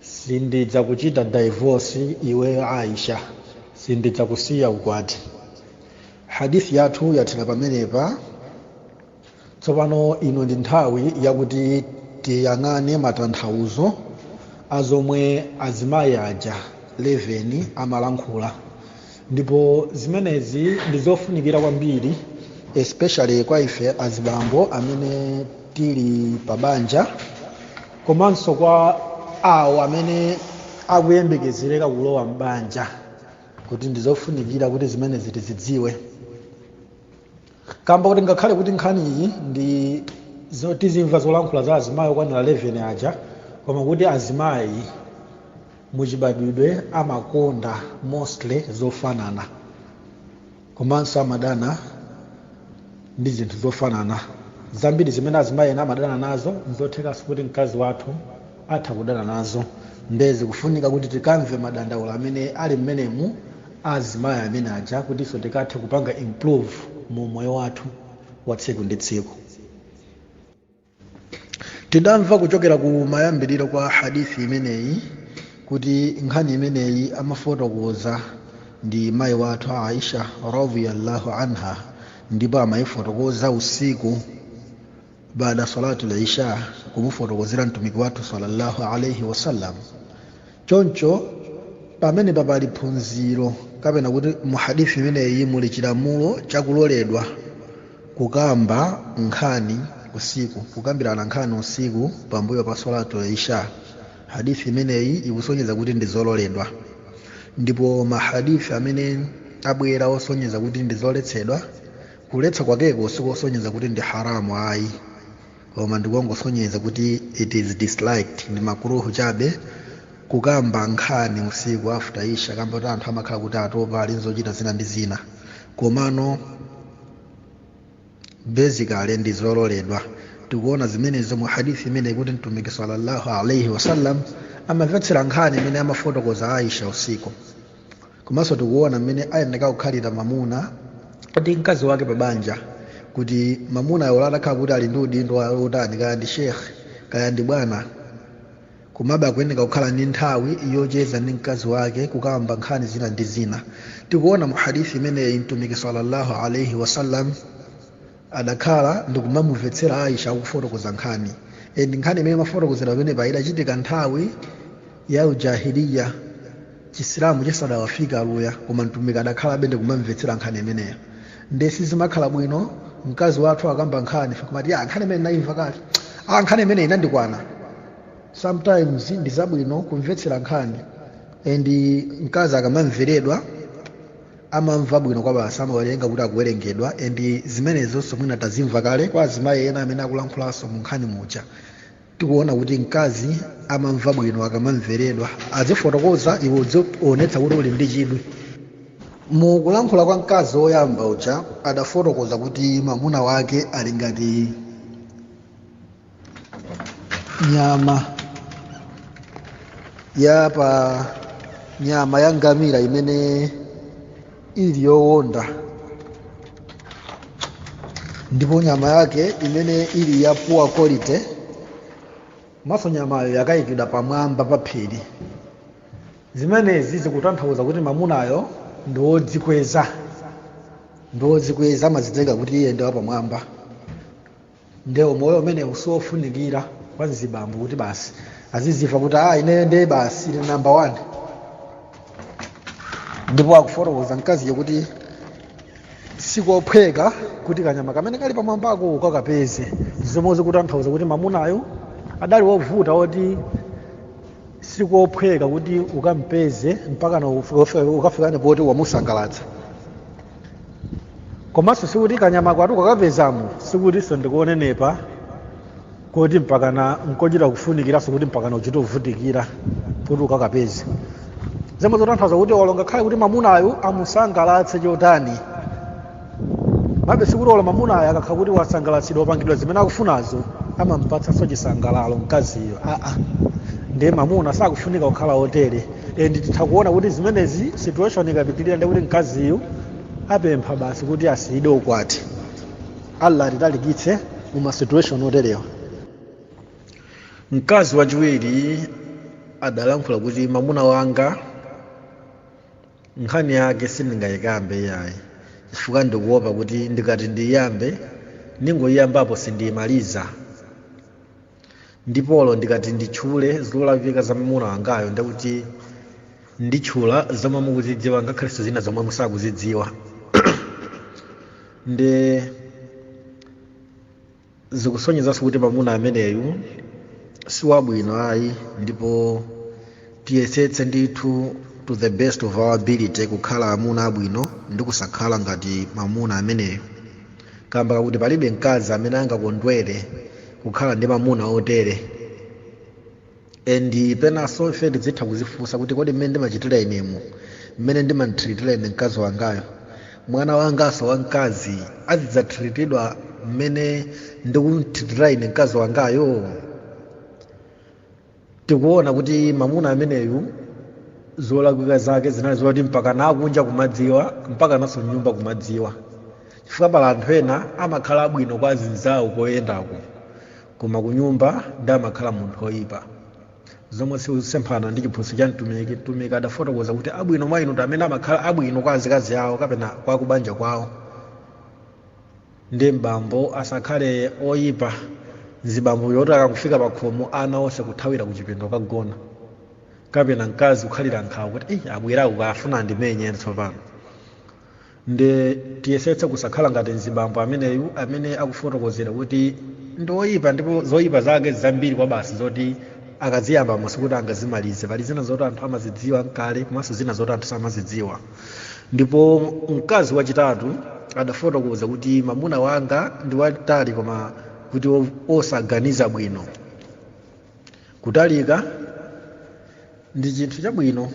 sindidzakuchita divorce iwe aisha sindidzakusiya ukwati hadith yathu yathera pamenepa tsopano ino ndi nthawi yakuti tiyang'ane matanthauzo a zomwe azimayi aja 11 amalankhula ndipo zimenezi ndi zofunikira kwambiri especially kwa ife azibambo amene tili pa banja komanso kwa awo amene akuyembekezereka kulowa m'banja kuti ndizofunikira kuti zimenezi tizidziwe kamba kuti ngakhale kuti nkhani iyi ndi zo- tizimva zolankhula za azimayi okwanira 11 aja koma kuti azimayi muchibadwidwe amakonda mostly zofanana komanso amadana ndi zinthu zofanana zambiri zimene azimayi ena amadana nazo nzothekanso kuti mkazi wathu atha kudana nazo nde zikufunika kuti tikamve madandaulo amene ali mmenemu azimayi amene aja kuti ife tikathe kupanga improve mu moyo wathu wa tsiku ndi tsiku tidamva kuchokera ku mayambiriro kwa hadithi imeneyi kuti nkhani imeneyi amafotokoza ndi mayi wathu a aisha radhiyallahu anha ndipo amayifotokoza usiku baada salatul isha kumufotokozera mtumiki wathu sallallahu alaihi wasallam choncho pamene papali phunziro kapena kuti muhadithi imeneyi muli chilamulo chakuloledwa kukamba nkhani usiku kukambirana nkhani usiku pambuyo pa salatul isha hadithi imeneyi ikusonyeza kuti ndi zololedwa ndipo mahadithi amene abwera osonyeza kuti ndi zoletsedwa kuletsa kwakeko sikosonyeza kuti ndi haramu ayi koma ndikoongosonyeza kuti it is disliked ndi makuruhu chabe kukamba nkhani usiku after isha kamba kuti anthu amakhala kuti atopa ali nzochita zina ndi zina komano basically ndi zololedwa tikuona zimenezo mu hadithi imeneyi kuti mtumiki sallallahu alaihi wasallam amamvetsera nkhani imene amafotokoza aisha usiku komanso tikuona mmene ayenera kukhalira mamuna ndi mkazi wake pa banja kuti mamunayo ola atakhala kuti ali ndi udindo wa- wotani kaya ndi sheikh kaya ndi bwana komabe akuyenera kukhala ndi nthawi yocheza ndi mkazi wake kukamba nkhani zina ndi zina tikuona mu hadithi imeneyi mtumiki sallallahu alaihi wasallam adakhala ndikumamumvetsera aisha akufotokoza nkhani e, ndi nkhani imene amafotokozera pamenepa idachitika nthawi ya jahiliya chisilamu chisadawafike aluya koma mtumiki adakhalabe ndikumamvetsera nkhani imeneyo nde sizimakhala bwino mkazi wathu akakamba nkhani kumati "Ah, nkhani imene ndayimva kale ah, nkhani imene inandikwana sometimes ndi zabwino kumvetsera nkhani and mkazi akamamveredwa amamva bwino kwabasi amaona kuti akuwerengedwa and zimenezonso mwina tazimva kale kwa azimayi ena amene akulankhulanso mu nkhani muja tikuona kuti mkazi amamva bwino akamamveredwa adzifotokoza iwe udziwonetsa kuti uli ndi chidwi mu kulankhula kwa mkazi woyamba uja adafotokoza kuti mwamuna wake ali ngati nyama ya pa nyama ya ngamira imene ili yowonda ndipo nyama yake imene ili ya poor quality komanso nyamayo yakayikidwa pamwamba pa phiri zimenezi zikutanthauza kuti mamunayo ndi wodzikweza ndi wodzikweza amadzitenga kuti iye ndi wapamwamba nde umoyo umenewu siwofunikira kwa mzibambo kuti basi aziziva kuti ah ineyo ndiye basi ine number 1 ndipo akufotokoza mkaziyo kuti sikophweka kuti kanyama kamene kali pamwambako ukakapeze zomwe zikutanthauza kuti mamunayo adali wovuta woti sikophweka kuti ukampeze mpakana ukafike poti wamusangalatsa komanso sikuti kanyamako ati ukakapezako sikutinso ndi konenepa kuti mpakana nkochita kufunikiranso kuti mpakana uchite kuvutikira kuti ukakapeze zomwe zotanthauza kuti olo ngakhale kuti mamunayo amusangalatse chotani komabe sikuti olo mamunayo akakhala kuti wasangalatsidwa wapangidwa zimene akufunazo amampatsanso chisangalalo mkaziyo aa ndiye mamuna sakufunika kukhala otere and titha kuona kuti zimenezi situation ikapitirira ndiye kuti mkaziyu apempha basi kuti asiyidwe ukwati allah atitalikitse mu ma situation oterewa mkazi wachiwiri adalankhula kuti mamuna wanga nkhani yake sindingayikambe iyayi chifukwa ndikuopa kuti ndikati ndiyambe ndingoyiyambapo sindiyimaliza ndipo olo ndikati nditchule zolakwika za mamuna wangayo ndiye kuti nditchula zomwe mukuzidziwa ngakhalenso zina zomwe musakuzidziwa nde zikusonyezanso kuti mamuna ameneyu si wabwino ayi ndipo tiyesetse ndithu to the best of our ability kukhala amuna abwino ndi kusakhala ngati mamuna ameneyo kamba kakuti palibe mkazi amene angakondwere kukhala ndi mamuna otere endi penanso ife tidzitha kuzifunsa kuti kodi mmene ndimachitira inemo mmene ndimamthiritira ine mkazi wangayo mwana wanganso wamkazi azidzathiritidwa mmene ndikumthiritira ine mkazi wangayo tikuona kuti mamuna ameneyu zolakwika zake zinali zoti mpaka nakunja kumadziwa mpaka nanso mnyumba kumadziwa chifukwa pali anthu ena amakhala abwino kwa azinzawo koyendako koma kunyumba ndi amakhala munthu oyipa zomwe zikusemphana ndi chiphunzitso cha mtumiki mtumiki adafotokoza kuti abwino mwa inu ndi amene amakhala abwino kwa azikazi awo kapena kwa kubanja kwawo ndi m'bambo asakhale oyipa mzibambo yoti akangofika pa khomo ana onse nkuthawira ku chipinda kukagona kapena mkazi kukhalira nkhawa kuti "Ei, abweraku akafuna andimenye tsopano ndi tiyesetse kusakhala ngati mzibambo ameneyu amene akufotokozera kuti ndi oyipa ndipo zoyipa zake zambiri kwa basi zoti akaziyamba mosi kuti angazimalize pali zina zoti anthu amazidziwa nkale komanso zina zoti anthu samazidziwa ndipo mkazi wachitatu adafotokoza kuti mamuna wanga ndi wamtali koma kuti o- osaganiza bwino kutalika ndi chinthu chabwino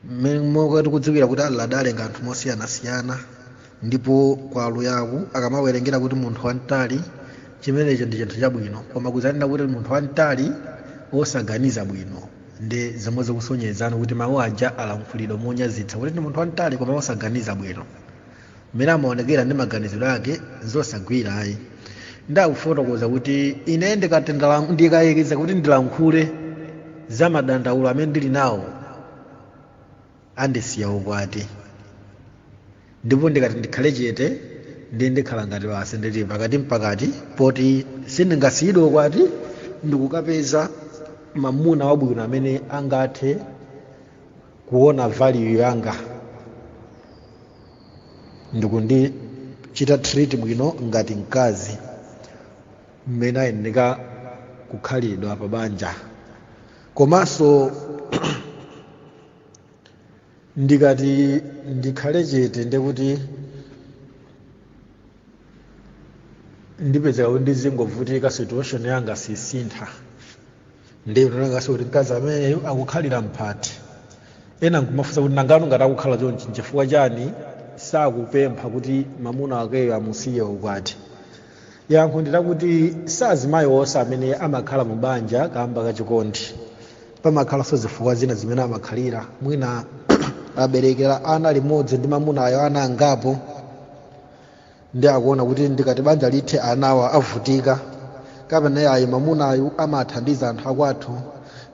mmene tonse tikudziwira kuti allah adalenga anthu mosiyanasiyana ndipo kwa aluyaku akamawerengera kuti munthu wamtali chimenecho ndi chinthu chabwino koma kuzanena kuti munthu wamtali wosaganiza bwino ndi zomwe zikusonyezani kuti mawu aja alankhulidwa monyazitsa kuti ndi munthu wamtali koma wosaganiza bwino mmene amaonekera ndi maganizidwe ake nzosagwira ayi ndikufotokoza kuti ine ndikatendala- ndikayekeza kuti ndilankhule za madandaulo amene ndili nawo andisiya ukwati ndipo ndikati ndikhale chete ndiye ndikhala ngati basi ndili pakati n'pakati poti sindingasiyidwe ukwati ndikukapeza mamuna wabwino amene angathe kuona value yanga ndikundichita treat bwino ngati mkazi mmene ayenera kukhalidwa pa banja komanso ndikati ndikhale chete ndekuti ndipezeka kuti ndizingovutika situation yanga sisintha ndiye ndinena ngati kuti mkazi ameneyo akukhalira mphepete ena nkumafunsa kuti nangano ngati akukhala chonchi nchifukwa chani sakupempha kuti mamuna akeyo amusiye ukwati yankho ndi lakuti si azimayi onse amene amakhala mu banja kamba ka chikondi pamakhalanso zifukwa zina zimene amakhalira mwina aberekera ana limodzi ndi mamunayo ana angapo ndiye akuona kuti ndikati banja lithe anawa avutika kapena yayi mamunayu amathandiza anthu akwathu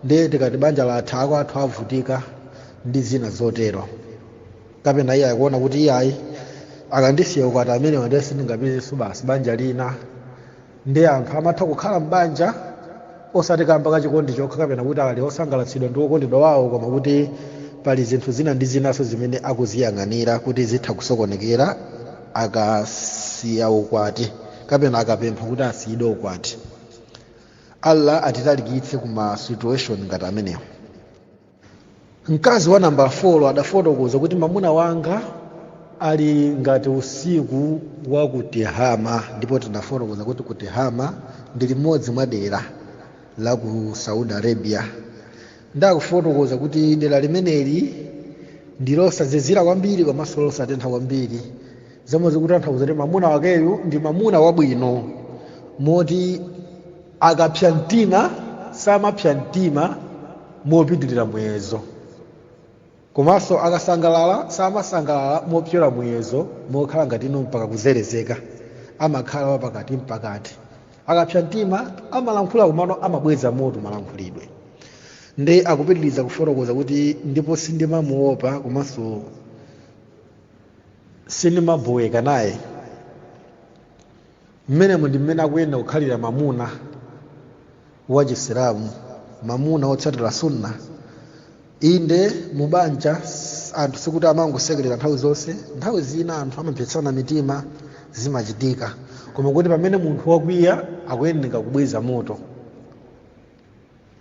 ndiye tikati banja latha akwathu avutika ndi zina zotero kapena iye akuona kuti iyayi akandisiya ukwati amenewo ndiye sindingapezenso basi banja lina ndiye anthu amatha kukhala m'banja osati kamba ka chikondi chokha kapena kuti ali osangalatsidwa ndi wokondedwa wawo koma kuti pali zinthu zina ndi zinanso zimene akuziyang'anira kuti zitha kusokonekera akasiya ukwati kapena akapempha kuti asiyidwe ukwati allah atitalikitse ku ma situation ngati amenewo mkazi wa namba 4 adafotokoza kuti mamuna wanga ali ngati usiku wa ku Tihama ndipo tinafotokoza kuti ku Tihama ndi limodzi mwa dera la ku saudi arabia ndi kufotokoza kuti dera limeneli ndi losazizira kwambiri komanso losatentha kwambiri zomwe zikutanthauza kuti mamuna wakeyu ndi mamuna wabwino moti akapsa mtima samapsa mtima mopitirira muyezo komanso akasangalala samasangalala mopyola muyezo mokhala ngati ino mpaka kuzerezeka amakhala wapakati mpakati akapsa mtima amalankhula komano amabweza moto malankhulidwe ndiye akupitiriza kufotokoza kuti ndipo sindimamuopa komanso sindimaboweka naye mmenemo ndi mmene akuyenera kukhalira mamuna wa chisilamu mamuna wotsatira sunna inde mubanja s- anthu sikuti amangosekerera nthawi zonse nthawi zina anthu amapsetsana mitima zimachitika koma kuti pamene munthu wakwiya akuyenera kubweza moto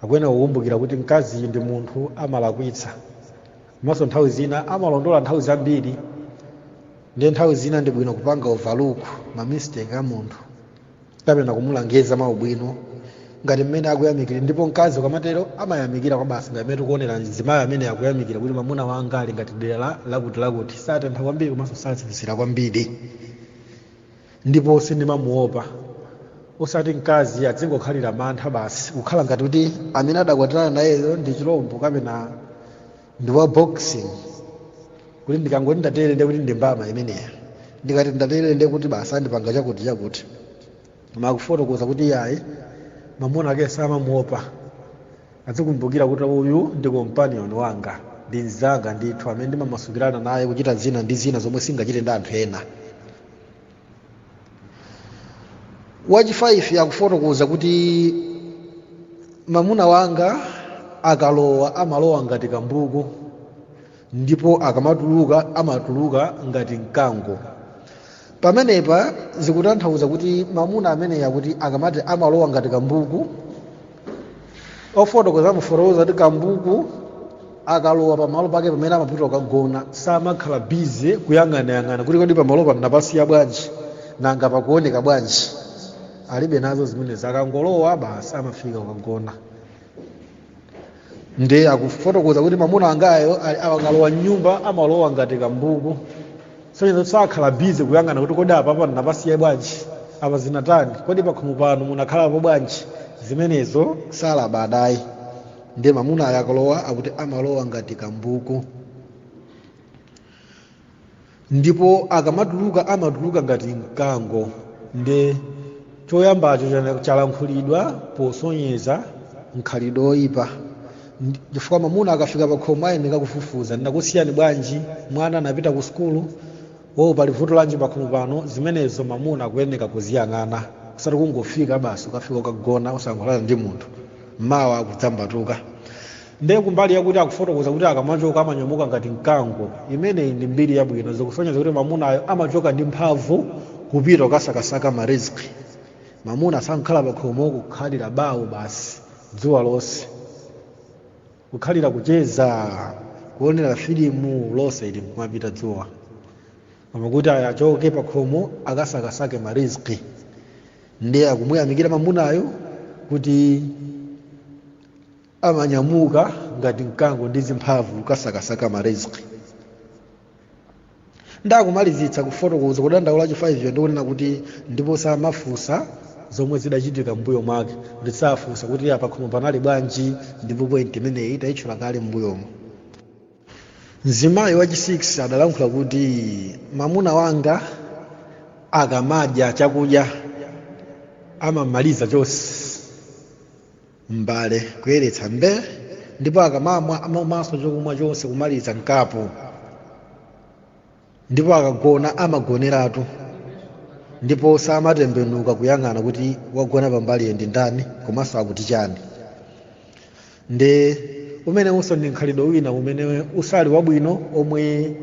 akuyenera kukumbukira kuti mkazi ndi munthu amalakwitsa komanso nthawi zina amalondola nthawi zambiri ndiye nthawi zina ndi bwino kupanga overlook mamistake a munthu kapena kumulangiza mwaubwino ngati mmene akuyamikira ndipo mkazi ukamatero amayamikira kwabasi ngati mmene tikuonera mzimayi ameneyu akuyamikira kuti mwamuna wanga ali ngati dera la- lakuti lakuti satentha kwambiri komanso sazizira kwambiri ndipo sindimamuopa osati mkazi adzingokhalira mantha basi kukhala ngati kuti amene adakwatirana nayeyo ndi chilombo kapena ndi wa boxing kuti ndikangoti ndatere ndekuti ndi mbama imeneyo ndikati ndatere ndekuti basi andipanga chakuti chakuti akufotokoza kuti yayi mamuna ake samamuopa adzikumbukira kuti uyu ndi companion wanga ndi mzanga ndithu amene ndimamasukirana naye kuchita zina ndi zina zomwe sindingachite ndi anthu ena wachi 5 akufotokoza kuti mamuna wanga akalowa amalowa ngati kambuku ndipo akamatuluka amatuluka ngati mkango pamenepa zikutanthauza kuti mamuna ameneyu kuti akamati amalowa ngati kambuku ofotokoza amafotokoza kuti kambuku akalowa pamalo pake pamene amapita kukagona samakhala bize kuyang'anayang'ana kuti kodi pamalo pano napasiya bwanji nanga pakuoneka bwanji alibe nazo zimenezi akangolowa basi amafika kukagona nde akufotokoza kuti mamuna wangayo akalowa mnyumba amalowa ngati kambuku sonyeza kuti sakhala bize kuyang'ana kuti kodi apapa ndinapasiya bwanji apa zinatani kodi pakhomo pano munakhalapo bwanji zimenezo salabadayi ndiye mamunayo akalowa akuti amalowa ngati kambuku ndipo akamatuluka amatuluka ngati mkango nde choyambacho chalankhulidwa posonyeza mkhalidwe woyipa chifukwa mamuna akafika pakhomo ayenera kufufuza ndinakusiyani bwanji mwana anapita ku sukulu wowo pali vuto lanji pakhomo pano zimenezo mamuna akuyenera kuziyang'ana usati kungofika basi ukafika ukagona osalankhulana ndi munthu mawa akudzambatuka ndiye kumbali yakuti akufotokoza kuti akamachoka amanyamuka ngati mkango imeneyi ndi mbiri yabwino zikusonyeza kuti mamunayo amachoka ndi mphamvu kupita kukasakasaka mariziki mamuna asakhale pakhomo kukhalira bawo basi dzuwa lonse kukhalira kucheza kuonera filimu lonse ili kumapita dzuwa koma kuti achoke pakhomo akasakasake mariziki ndiye akumuyamikira mamunayo kuti amanyamuka ngati mkango ndi zimphamvu kukasakasaka mariziki nde akumalizitsa kufotokoza kudandaula wachifaiviyo ndikunena kuti ndipo samafunsa zomwe zidachitika mbuyo mwake kuti safunsa kuti pakhomo panali bwanji ndipo point imeneyi tayitchula kale mbuyomo mzimayi wachi 6 adalankhula kuti mamuna wanga akamadya chakudya amamaliza chonse m'mbale kuyeretsa mbe ndipo akamamwa amamwanso chokumwa chonse kumaliza mkapu ndipo akagona amagoneratu ndipo samatembenuka kuyang'ana kuti wagona pambaliyo ndi ndani komanso akuti chani nde umenewunso ndi mkhalidwe wina umene usali wabwino omwe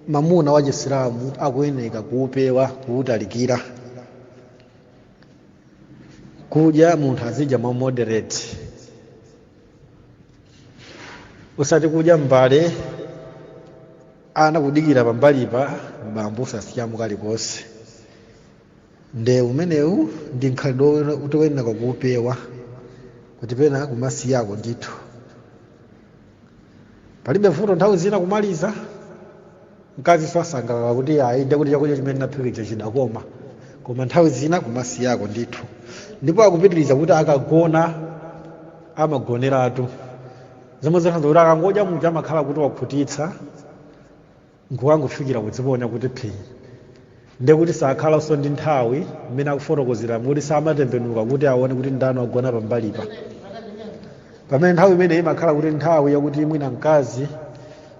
mamuna wa chisilamu akuyeneka kuupewa kuutalikira kudya munthu azidya mwa moderate usati kudya mbale ana akudikira pambalipa bambo osasiyamo kalikonse nde umenewu ndi mkhalidwe woti oyenera kuupewa kuti pena kumasiyako ndithu palibe vuto nthawi zina kumaliza mkazinso asangalala kuti aaa nde kuti chakudya chimene naphikija chidakoma koma nthawi zina kumasiyako ndithu ndipo akupitiriza kuti akagona amagoneratu zomwe zikutanthauza kuti akangodya muja amakhala kuti wakhutitsa nkukangofikira kudziponya kuti phii nde kuti sakhalanso ndi nthawi mmene akufotokozera kuti samatembenuka kuti aone kuti ndani wagona pambalipa pamene nthawi imeneyi imakhala kuti nthawi yakuti mwina mkazi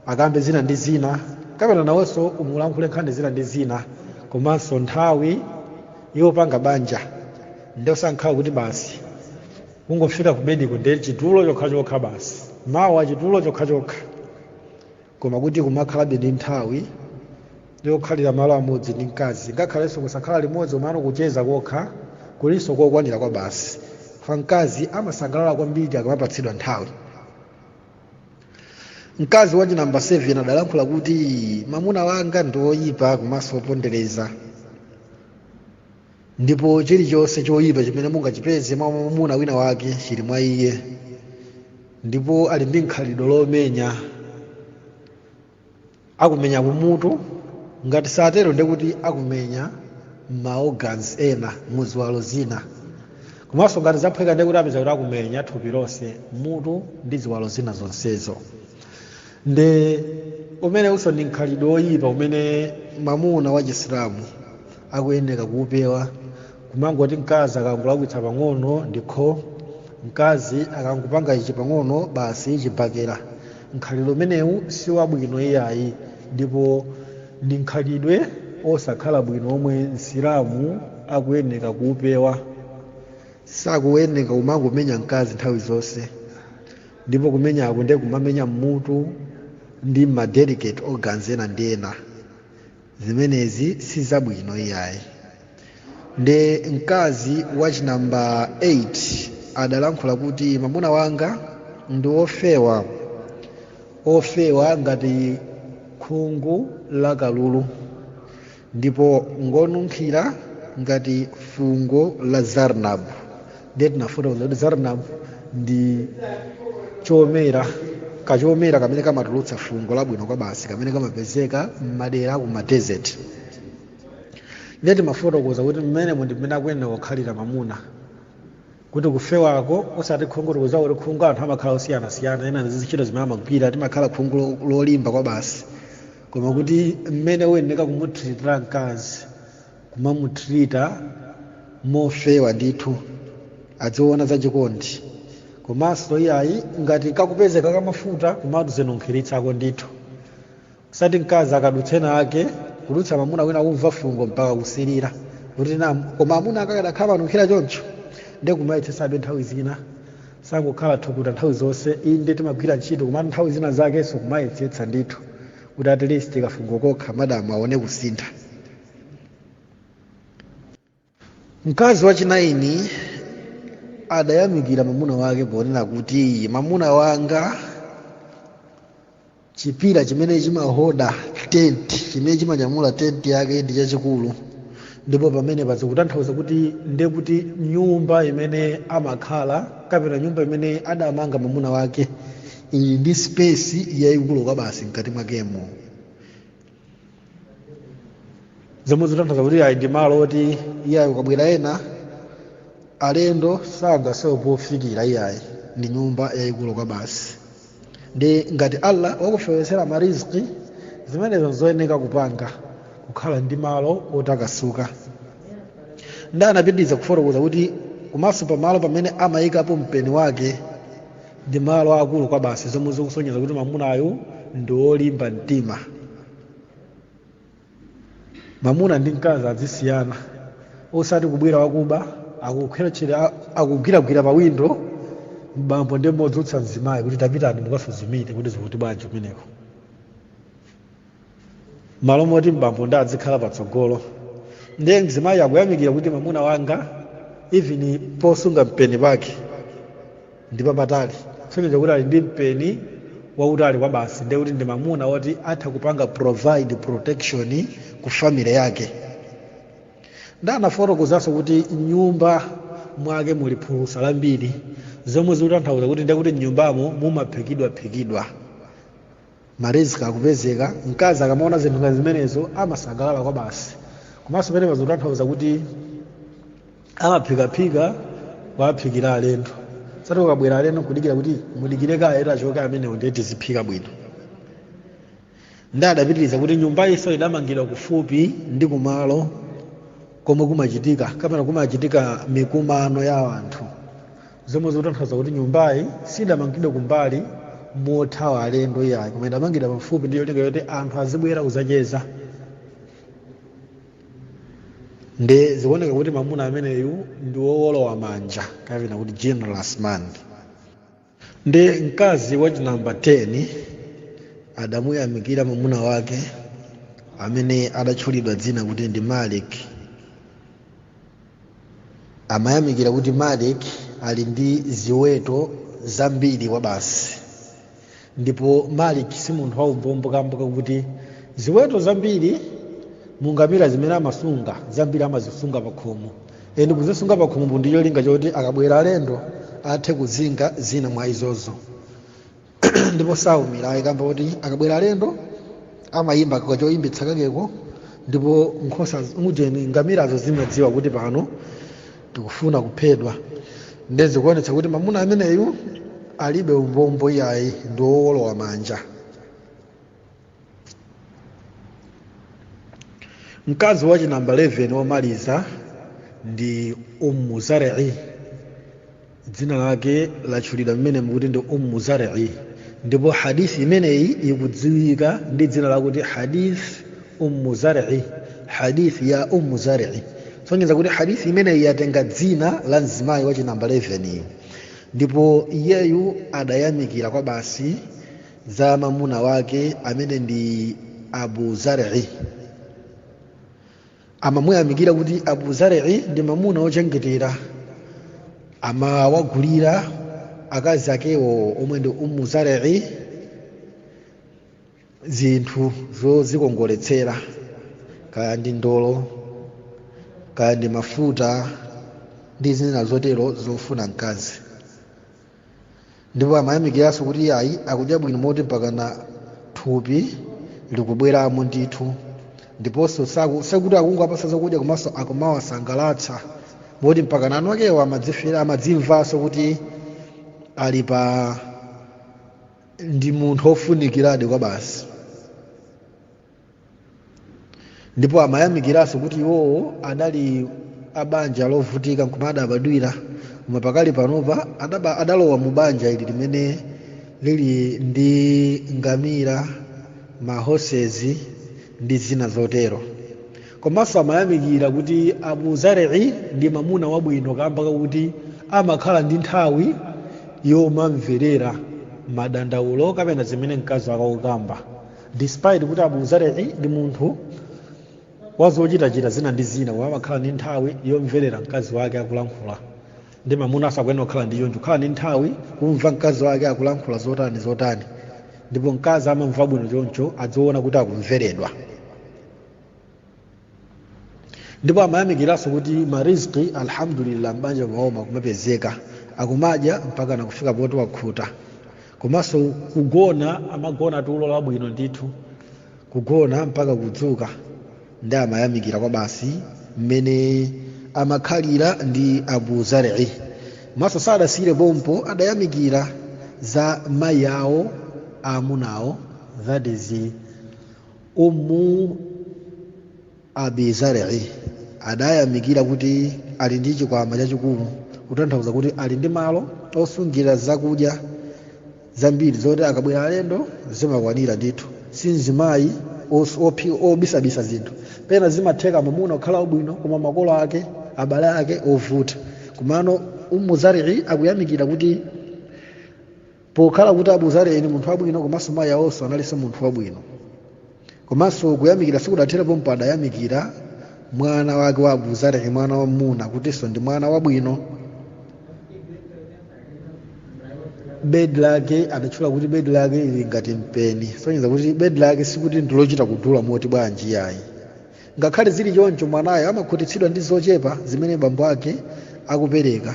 akambe zina ndi zina kapena nawonso umulankhule nkhani zina ndi zina komanso nthawi yopanga banja nde osakhala kuti basi kungofika kubediko ndi chitulo chokhachokha basi mawa chitulo chokhachokha koma kuti kumakhalabe ndi nthawi yokhalira malo amodzi ndi mkazi ngakhalenso kusakhala limodzi komano kucheza kokha kulinso kokwanira kwabasi kwa mkazi amasangalala kwambiri akamapatsidwa nthawi mkazi wa chinamba 7 adalankhula kuti mamuna wanga ndi woyipa komanso wopondereza ndipo chilichonse choyipa chimene mungachipeze mwa mwamuna wina wake chili mwa iye ndipo ali ndi khalidwe lomenya akumenya kumutu ngati satero ndiye kuti akumenya maorgans ena muziwalo zina komanso ngati zaphweka ndiye kuti apeza kuti akumenya thupi lonse mutu ndi ziwalo zina zonsezo nde umenewuso ndi mkhalidwe woyipa umene mamuna wa chisilamu akuyenera kuupewa kumangoti mkazi akangolakwitsa pang'ono ndikho mkazi akangopanga ichi pang'ono basi chibakera mkhalidwe umenewu si wabwino iyayi ndipo ndi mkhalidwe osakhala bwino omwe msilamu akuyenera kuupewa sakuyenera kumangomenya mkazi nthawi zonse ndipo kumenyako ndiye kumamenya mmutu ndi ma delicate organs ena ndi ena zimenezi si zabwino iyayi ndi mkazi wa chinamba 8 adalankhula kuti mamuna wanga ndi ofewa ofewa ngati khungu la kalulu ndipo ngonunkhira ngati fungo la zarnab ndiye tinafotokoza kuti zarnab ndi chomera kachomera kamene kamatulutsa fungo labwino kwabasi kamene kamapezeka m'madera aku madesert ndiye tinafotokoza kuti mmenemo ndi mmene akuyenera kukhalira mamuna kuti kufewako osati khungu chifukwa choti khungu anthu amakhala osiyanasiyana ena ndi zintchito zimene amagwira limakhala khungu lo- lolimba kwabasi koma kuti mmene uyeneka kumutiritira mkazi kumamutirita mofewa ndithu adziona zachikondi komanso iyayi ngati kakupezeka kamafuta kumadzinunkhiritsako ndithu osati mkazi akadutsa ena ake kudutsa mamuna wina kumva fungo mpaka kusilira kuti koma amuna anga akadakhala amanunkhira choncho ndiye kumayetsesabe nthawi zina osangokhala thukuta nthawi zonse inde timagwira ntchito koma nthawi zina zakenso kumayesetsa ndithu kuti at least kafungo kokha madamu aone kusintha mkazi wachinaini adayamikira mamuna wake ponena kuti mamuna wanga chipira chimene chimaholda tenti chimene chimanyamula tenti yake ndi chachikulu ndipo pamene apa zikutanthauza kuti ndiye kuti nyumba imene amakhala kapena nyumba imene adamanga mamuna wake ili ndi space yayikulu kwabasi mkati mwakemo zomwe zikutanthauza kuti iyayi ndi malo oti iyayi akabwera ena alendo sadzasowa pofikira iyayi ndi nyumba yayikulu kwa basi ndiye ngati allah wakufewetsera ma rizq zimenezo nzoyeneka kupanga kukhala ndi malo otakasuka ndiye anapitiriza kufotokoza kuti komanso pamalo pamene amayikapo mpeni wake ndi malo akulu kwa basi zomwe zikusonyeza kuti mamunayu ndi wolimba mtima mamuna ndi mkazi azisiyana osati kubwera wakuba akukhwerechetsa akugwiragwira pawindo bambo nkumadzutsa mzimayi kuti tapitani mukasuzumire kuti zili bwanji kumeneko malo moti bambo ndiye adzikhala patsogolo ndiye mzimayi akuyamikira kuti mamuna wanga even posunga mpeni pake ndi papatali kusonyeza kuti ali ndi mpeni wautali kwa basi ndiye kuti ndi mamuna woti atha kupanga provide protection ku family yake ndiye anafotokozanso kuti mnyumba mwake muli phulusa lambiri zomwe zikutanthauza kuti ndiye kuti mnyumbamo mumaphikidwaphikidwa marisk akupezeka mkazi akamaona zinthu ngati zimenezo amasangalala kwabasi komanso pamenepa zotanthauza kuti amaphikaphika kuwaphikira alendo osati kukabwera alendo kudikira kuti mudikire kaye achoke amenewo ndiye tiziphika bwino ndi adapitiriza kuti nyumbayinso idamangidwa kufupi ndi kumalo komwe kumachitika kapena kumachitika mikumano ya anthu zomwe zikutanthauza kuti nyumbayi sidamangidwe kumbali mothawa alendo iyayi koma idamangidwa pafupi ndi cholinga choti anthu azibwera kudzacheza ndiye zikuoneka kuti mamuna ameneyu ndi wowolowa manja kapena kuti generous man ndi mkazi wachinamba 10 adamuyamikira mamuna wake amene adatchulidwa dzina kuti ndi malik amayamikira kuti malik ali ndi ziweto zambiri kwabasi ndipo malik si munthu waumbombo kamba kakuti ziweto zambiri mu ngamira zimene amasunga zambiri amazisunga pakhomo and kuzisunga pakhomopo ndi cholinga choti akabwera alendo athe kuzinga zina mwa izozo ndipo saumira ayi kamba koti akabwera alendo amayimba kachoyimbitsa kakeko ndipo nkhosa ujeni ngamirazo zimadziwa kuti pano tikufuna kuphedwa nde zikuonetsa kuti mamuna ameneyu alibe umbombo iyayi ndi wowolowa manja mkazi wachinamba 11 womaliza ndi ummu zar'i dzina lake latchulidwa mmenemu kuti ndi ummu zar'i ndipo hadith imeneyi ikudziwika ndi dzina lakuti hadith ummu zar'i hadith ya ummu zar'i sonyeza kuti hadith imeneyi yatenga dzina la mzimayi wachinamba 11yu ndipo iyeyu adayamikira kwabasi za mamuna wake amene ndi abu zar'i amamuyamikira kuti abu zar'i ndi mamuna wochengetera amawagulira akazi akewo omwe ndi ummu zar'i zinthu zozikongoletsera kaya ndi ndolo kaya ndi mafuta ndi zina zotero zofuna mkazi ndipo amayamikiranso kuti ayi akudya bwino moti mpakana thupi likubweramo ndithu ndiponso saku- sikuti akungowapasa zakudya komanso akumawasangalatsa moti mpakana eni akewo amadzimvera amadzimvanso kuti ali pa ndi munthu wofunikiradi kwabasi ndipo amayamikiranso kuti iwowo anali a banja lovutika nkumwe adabadwira koma pakali panopa adaba- adalowa mu banja ili limene lili ndi ngamira mahosezi ndi zina zotero komanso amayamikira kuti abu zarei ndi mamuna wabwino kamba kakuti amakhala ndi nthawi yomamverera madandaulo kapena zimene mkazi wake akukamba despite kuti abu zari'i ndi munthu wazochitachita zina ndi zina koma amakhala ndi nthawi yomverera mkazi wake akulankhula ndi mamuna akuyenera kukhala ndi choncho kukhala ndi nthawi kumva mkazi wake akulankhula zotani zotani ndipo mkazi amamva bwino choncho adziona kuti akumveredwa ndipo amayamikiranso kuti marizqi alhamdulillah m'banja mwawo mumapezeka akumadya mpaka nakufika poti wakhuta komanso kugona amagona tulo labwino ndithu kugona mpaka kudzuka ndi amayamikira kwabasi mmene amakhalira ndi abu zari komanso sadasiyire pompo adayamikira za mayi awo aamunawo that is ummu abi zar'i adayamikira kuti ali ndi chikwama chachikulu kutanthauza kuti ali ndi malo osungira zakudya zambiri zoti akabwera alendo zimakwanira ndithu si mzimayi os- ophi- obisabisa zinthu pena zimatheka mamuna kukhala wabwino koma makolo ake abale ake ovuta komano ummu zar'i akuyamikira kuti pokhala kuti abu zari ni munthu wabwino komanso mayi awonso analinso munthu wabwino komanso kuyamikira sikudathere pompo adayamikira mwana wake wa abu zari mwana wamuna kutinso ndi mwana wabwino bedi lake adatchula kuti bedi lake ili ngati mpeni sonyeza kuti bedi lake sikuti ndilochita kudula moti bwanji yayi ngakhale zili choncho mwanayo amakhutitsidwa ndi zochepa zimene bambo ake akupereka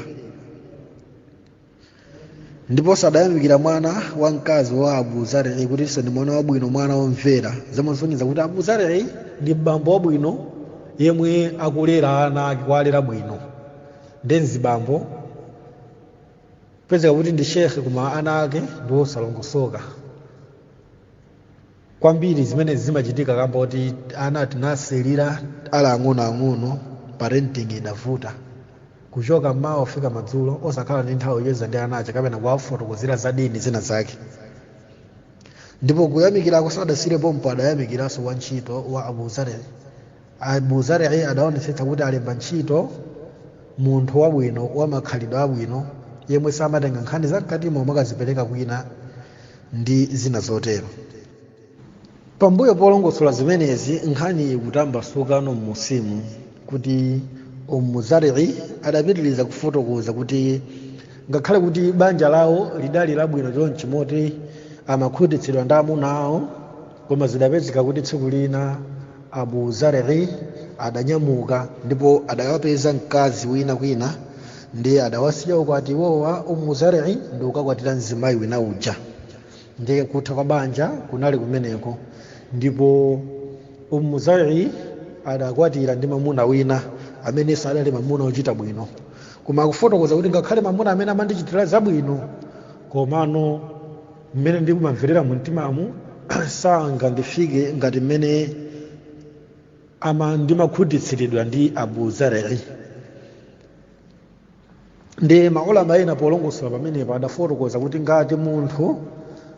ndipo adayamikira mwana wamkazi wa abu zarei kutinso ndi mwana wabwino mwana womvera zimasonyeza kuti abu zarei ndi bambo wabwino yemwe akulera ana ake kuwalera bwino nde mzibambo pezeka kuti ndi shekhe koma ana ake ndi osalongosoka kwambiri zimene zimachitika kamba kuti ana tinawasiyira ali ang'onoang'ono parenting idavuta kuchoka mmawa kufika madzulo osakhala ndi nthawi yocheza ndi ana aja kapena kuwafotokozera za dini zina zake ndipo kuyamikirako sadasiyire pompo adayamikiranso wantchito wa abu zarei abu zari'i adaonetsetsa kuti alemba ntchito munthu wabwino wa makhalidwe abwino yemwe samatenga nkhani za mkatimo kumakazipereka kwina ndi zina zotero pambuyo polongosola zimenezi nkhani ikutambasukano m'munsimu kuti umu zari'i adapitiriza kufotokoza kuti ngakhale kuti banja lawo lidali labwino chonchi moti amakhutitsidwa ndi amuna awo koma zidapezeka kuti tsiku lina abu zari adanyamuka ndipo adawapeza mkazi wina kwina ndiye adawasiya ukwati iwowa umu zari ndi kukakwatira mzimayi wina uja ndiye kutha kwa banja kunali kumeneko ndipo umu zari adakwatira ndi mamuna wina amenenso adali mamuna ochita bwino koma akufotokoza kuti ngakhale mamuna amene amandichitira zabwino komano mmene ndikumamverera mumtimamu sangandifike ngati mmene ama ndimakhutitsidwira ndi abu zarei ndi maulama ena polongosola pamenepo adafotokoza kuti ngati munthu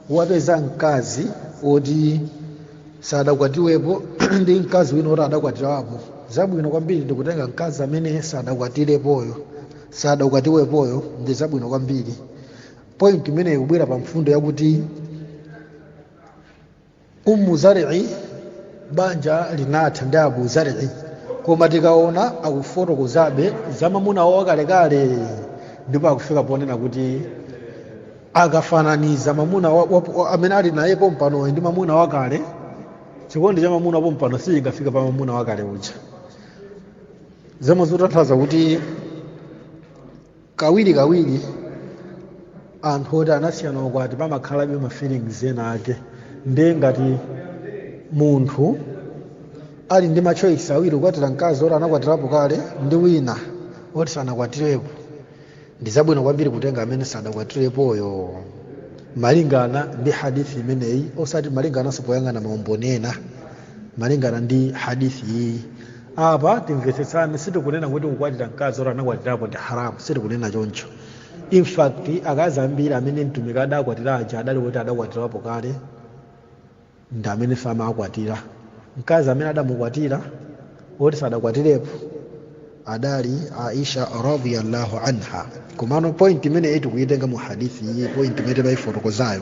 wapeza mkazi woti sadakwatiwepo ndi mkazi wina woti adakwatirapo zabwino kwambiri ndikutenga mkazi amene sadakwatirepoyo sadakwatiwepoyo ndi zabwino kwambiri point imene ikubwera pa mfundo yakuti ummu zari'i banja linatha ndi abu zari'i koma tikuona akufotokozabe za mamuna wawo wakalekale ndipo akufika ponena kuti akafananiza mamuna wa, wa, wa, amene ali naye pompanoyo ndi mamuna wakale chikondi cha mamuna wapompano sichingafike pa mamuna wakale uja zomwe zikutanthauza kuti kawirikawiri anthu oti anasiyana ukwati pamakhalabe ma feelings ena ake ndiye ngati munthu ali ndi ma choice awiri kukwatira mkazi oti anakwatirapo kale ndi wina oti sanakwatirepo ndi zabwino kwambiri kutenga amene sadakwatirepoyo malingana ndi hadithi imeneyi osati malingananso poyang'ana maumboni ena malingana ndi hadithi iyi apa timvetsetsane sitikunena kuti kukwatira mkazi oti anakwatirapo ndi haramu sitikunena choncho in fact akazi ambiri amene mtumiki adakwatira aja adali kuti adakwatirapo kale ndi amene amawakwatira mkazi amene adamukwatira woti sadakwatirepo adali aisha radiyallahu anha komano point imene tikuyitenga mu hadithi iyi point imene timaifotokozayo